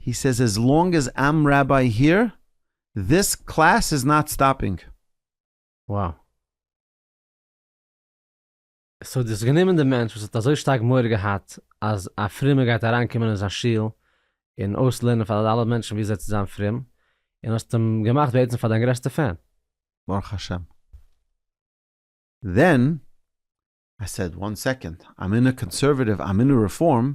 הי סעז עז לאנג עז איים ראביי היער דיס קלעס איז נאט סטאפינג. Wow. סאו דו האסט גענומען די מענטש וואס האט אזוי שטארק מורא געהאט אז א פרומער גייט אריינקומען אין זיין שול און אויסלערנען פאר אלע מענטשן ווי אזוי צו זיין פרום, און האסט אים געמאכט בעצם פאר דיין גרעסטע פען. ברוך השם. דען איי סעד וואן סעקאנד, איים אין א קאנסערוועטיוו, איים אין א רעפארם.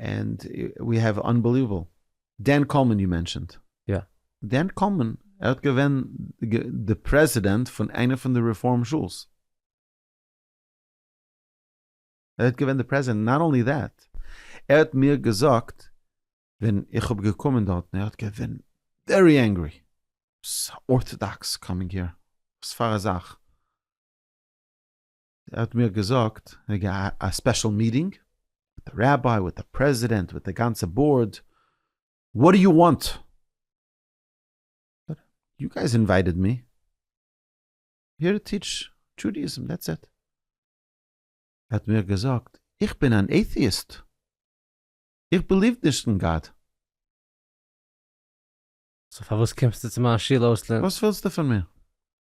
ענד ווי העוו אנבעליוועבל דען קאלמאן יו מענשענד. יא. דען קאלמאן ער האט געווען די פרעזידענט פון איינע פון די רעפארם שולס. ער האט געווען די פרעזידענט נאט אנלי דעט ער האט מיר געזאגט ווען איך האב געקומען דארטן ער האט געווען ווערי ענגרי ארטאדאקס קאמינג העיר וואספארא זאך. ער האט מיר געזאגט וועגן א ספעשל מיטינג מיט די ראביי מיט די פרעזידענט מיט די גאנצע באורד, וואט דו יו וואנט? יו גייס אינווייטעד מי היער טו טיטש דזשודעאיזם דעטס איט. ער האט מיר געזאגט איך בין אן עיטיאיסט, איך בעליוו נישט אין גאט. סאו פארוואס קומסטו צו מיין שול אויסלערנען? וואס ווילסטו פון מיר?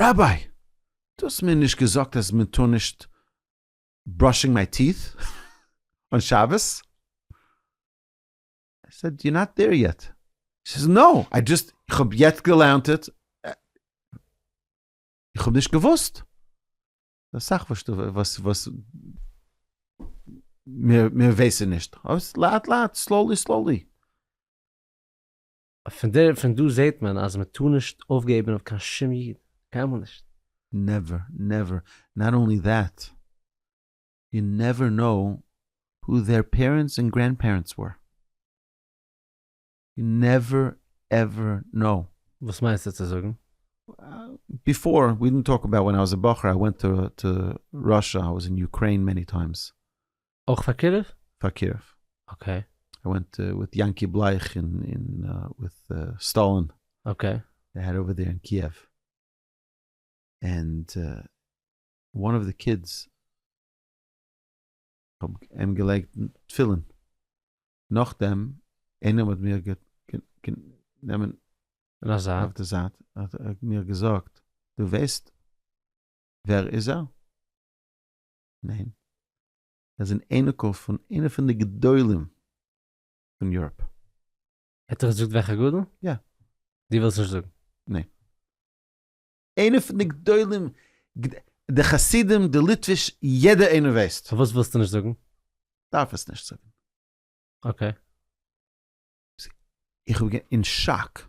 ראביי! דו האסט מיר נישט געזאגט אז מען טאר נישט בראשינג מיי טיעט און שבת? איי סעד יו נאט דעיר יעט. הי סעיז נאו, איי דזשאסט, איך האב יעצט געלערנט איט, איך האב נישט געוואוסט. אסאך וואס דו וואס וואס מיר ווייסען נישט. לאט לאט, סלאולי סלאולי. פון דער פון דא זעהט מען אז מען טאר נישט אויפגעבען אויף קיין שום איד, קיינמאל נישט. נעווער נעווער, נאט אנלי דעט, יו נעווער נאו הו דער פערענטס ענד גרענד פערענטס ווער, יו נעווער עווער נאו. וואס מיינסטו צו זאגן? ביפאר, ווי דינט טאלק אבאוט ווען איי וואס א בחור איי ווענט טו ראשע, איי וואס אין יוקרעין מעני טיימס, אויך פאר קירוב? פאר קירוב. אקעי. איי ווענט וויט יענקי בלייך אין אין וויט סטאלין. אקעי. זיי העד אווער דעיר אין קיעוו. ענד וואן אוו די קידס האב אים געלייגט תפילין. נאכדעם איינער האט מיר גענומען אויף די זייט האט מיר געזאגט דו ווייסט ווער איז ער? ניין. ער איז אן אייניקל פון איינע פון די גדולים פון יוראפ. ער האט דיר געזאגט וועלכע גדול? יא. דו ווילסט נישט זאגן? ניין. איינע פון די גדולים, די חסידים, די ליטוויש, יעדער איינער ווייסט. פארוואס ווילסטו נישט זאגן? דארף עס נישט זאגן. אקעי. איך בין אין שאק.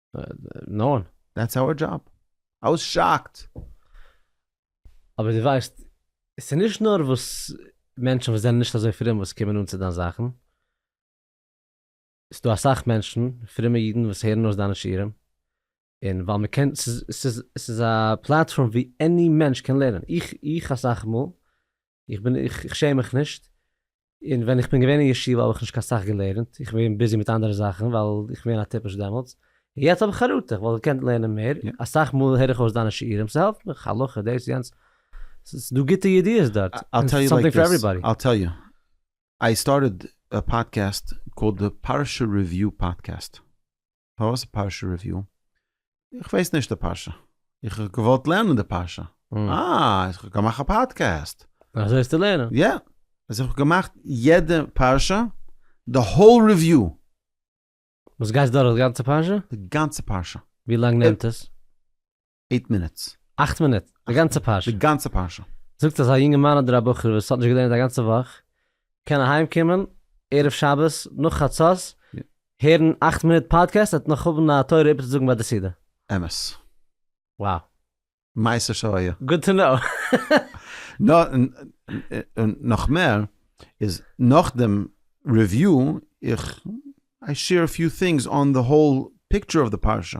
נאון. דעטס אווער דזשאב. איי וואס שאקט. אבער דו ווייסט, ס'איז נישט נאר וואס מענטשן וואס זענען נישט אזוי פרום וואס קומען אן צו דיין זאכן, ס'איז דא אסאך מענטשן, פרומע אידן וואס הערן אויס דיינע שיעורים, און ווייל מ'קען, ס'איז א פלאטפארם ווי עני מענטש קען לערנען. איך, איך אסאך מאל, איך בין איך איך שעם מיך נישט, און ווען איך בין געווען אין ישיבה האב איך נישט קיין סאך געלערנט, איך בין געווען ביזי מיט אנדערע זאכן ווייל איך בין געווען א טיפש דעמאלטס, און יעצט האב איך חרטה, איך וואלט געקענט לערנען מער, אסאך מאל הער איך אויס דיינע שיעורים, ס'העלפט מיך, הלכה, דאס יענץ, ס'איז דא גוטע ידיעות דארט, און ס'איז סאמטינג פאר עוועריבאדי. I'll tell you, I started a podcast called the Parsha Review Podcast. פארוואס פרשה ריוויו? איך ווייס נישט די פרשה. איך האב געוואלט לערנען די פרשה. אה, איך האב געמאכט א פאדקעסט. אזוי האסטו לערנען? יא. אז איך האב געמאכט יעדע פרשה, די האול ריוויו. וואס גייסט דורך די גאנצע פרשה? די גאנצע פרשה. ווי לאנג נעמט עס? עיט מינוטס. אכט מינוט? די גאנצע פרשה? די גאנצע פרשה. זאגט אז א יונגערמאן אדער א בחור וואס האט נישט געלערנט א גאנצע וואך, קען אהיים קומען ערב שבת נאך חצות, הערן אכט מינוט פאדקעסט ער וועט נאך האבן א תורה איבערצוזאגן ביי די סעודה. אמת. Wow. מעשה שהיה. Good to know. און נאך מער, איז נאך דעם ריוויו, איך I share a few things on the whole picture of the פרשה.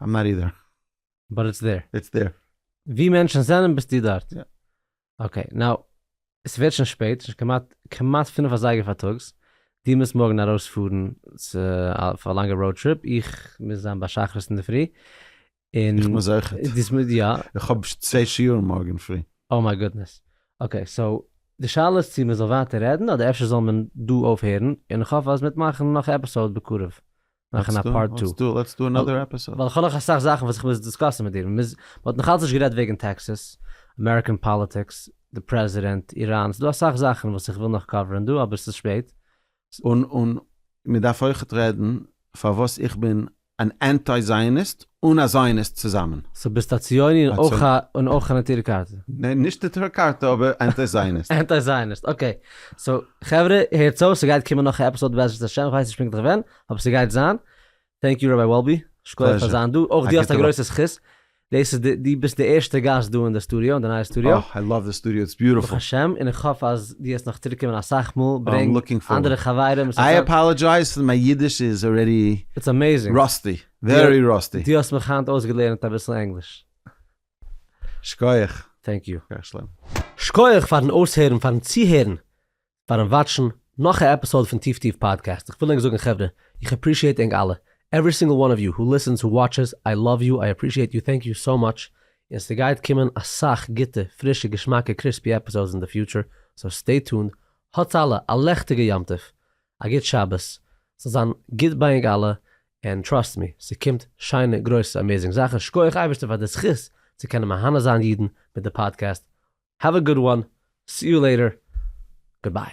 איים נאט אידער. באט איטס דער. איטס דער. ווי מענטשן זענען ביסטו דארט. יא. אקעי, נאו, עס ווערט שוין שפעט, שוין כמעט, כמעט פינף אזייגער פארטאגס, דו מוזט מארגן ארויס פארן צו א פאר א לאנגע ראוד טריפ, איך מוז זיין ביי שחרית אינדערפרי, און. איך מוז אויכעט. דו מוז יא. איך האב צוויי שיעורים מארגן פרי. אוי מיי גודנעס. אקעי, סאו, די שאלה איז צו מען זאל ווייטער רעדן אדער אפשר זאל מען דא אויפהערן, און איך האף אז מען וועט מאכן נאך א עפיסאוד בקרוב. מאכן א פארט טו. לעטס דו לעטס דו אנאדער עפיסאד. ווייל כ'האב נאך אסאך זאכן וואס איך מוז דיסקאסן מיט דיר. מען מוז, מען האט נאכאלץ נישט גערעדט וועגן טעקסעס, אמעריקען פאליטיקס, די פרעזידענט, איראן, ס'דא אסאך זאכן וואס איך וויל נאך קאווערן דא אבער ס'איז שפעט. און און מען דארף אויכעט רעדן פארוואס איך בין אן אנטי זייעניסט אן א זיוניסט צוזאמען. סאו ביסט א ציוני און אויך א און אויך א נטורי קרתא? ניין נישט נטורי קרתא אבער אנטי זיוניסט. אנטי זיוניסט אקעי. סאו חברה הערטס אויס ס'גייט קומען נאך א עפיסאד בעזרת השם כ'ווייס נישט פונקטליך ווען אבער ס'גייט זיין. טענק יו ראביי וואלבי שקויעך פאר זיין דא. אויך דו האסט א גרויסע זכות דאס איז די דו ביסט די ערשטע גאסט דא אין די סטודיאו אין די נייע סטודיאו. אוי איי לאוו די סטודיאו איטס ביוטעפול. ברוך השם און איך האף אז דו וועסט נאך צוריק קומען אסאך מאל ברענג אנדערע חברים. איי אפאלעדזשייז פאר מיין אידיש איז ארעדי ראסטי. ווערי ראסטי. דו האסט מיך היינט אויסגעלערנט אביסל ענגליש. שכוח. טענק יו. שכוח שלום. שכוח פארן אויסהערן, פארן צוהערן, פארן וואטשן נאך א עפיסאוד פון טיף טיף פאדקעסט, איך וויל ענק זאגן חברה, איך עפרישיעט ענק אלע, עווערי סינגל וואן אוו יו הו ליסענס הו וואטשעס, איי לאוו יו, איי עפרישיעט יו, טענק יו סאו מאטש, און ס'גייט קומען אסאך גוטע, פרישע, געשמאקע, קריספי עפיסאודס אין די פיוטשער, סאו סטעי טונד, האטס אלע א לעכטיגע יום טוב, א גוט שבת, ס'זאל זיין גוט ביי ענק אלע, ענד טראסט מי, ס'קומט שיינע גרויסע אמעזינג זאכן, שקויעך אייבערשטער פאר די זכות צו קענען מהנה זיין אידן מיט די פאדקעסט, האוו א גוד וואן, סי יו לעיטער, גוד ביי.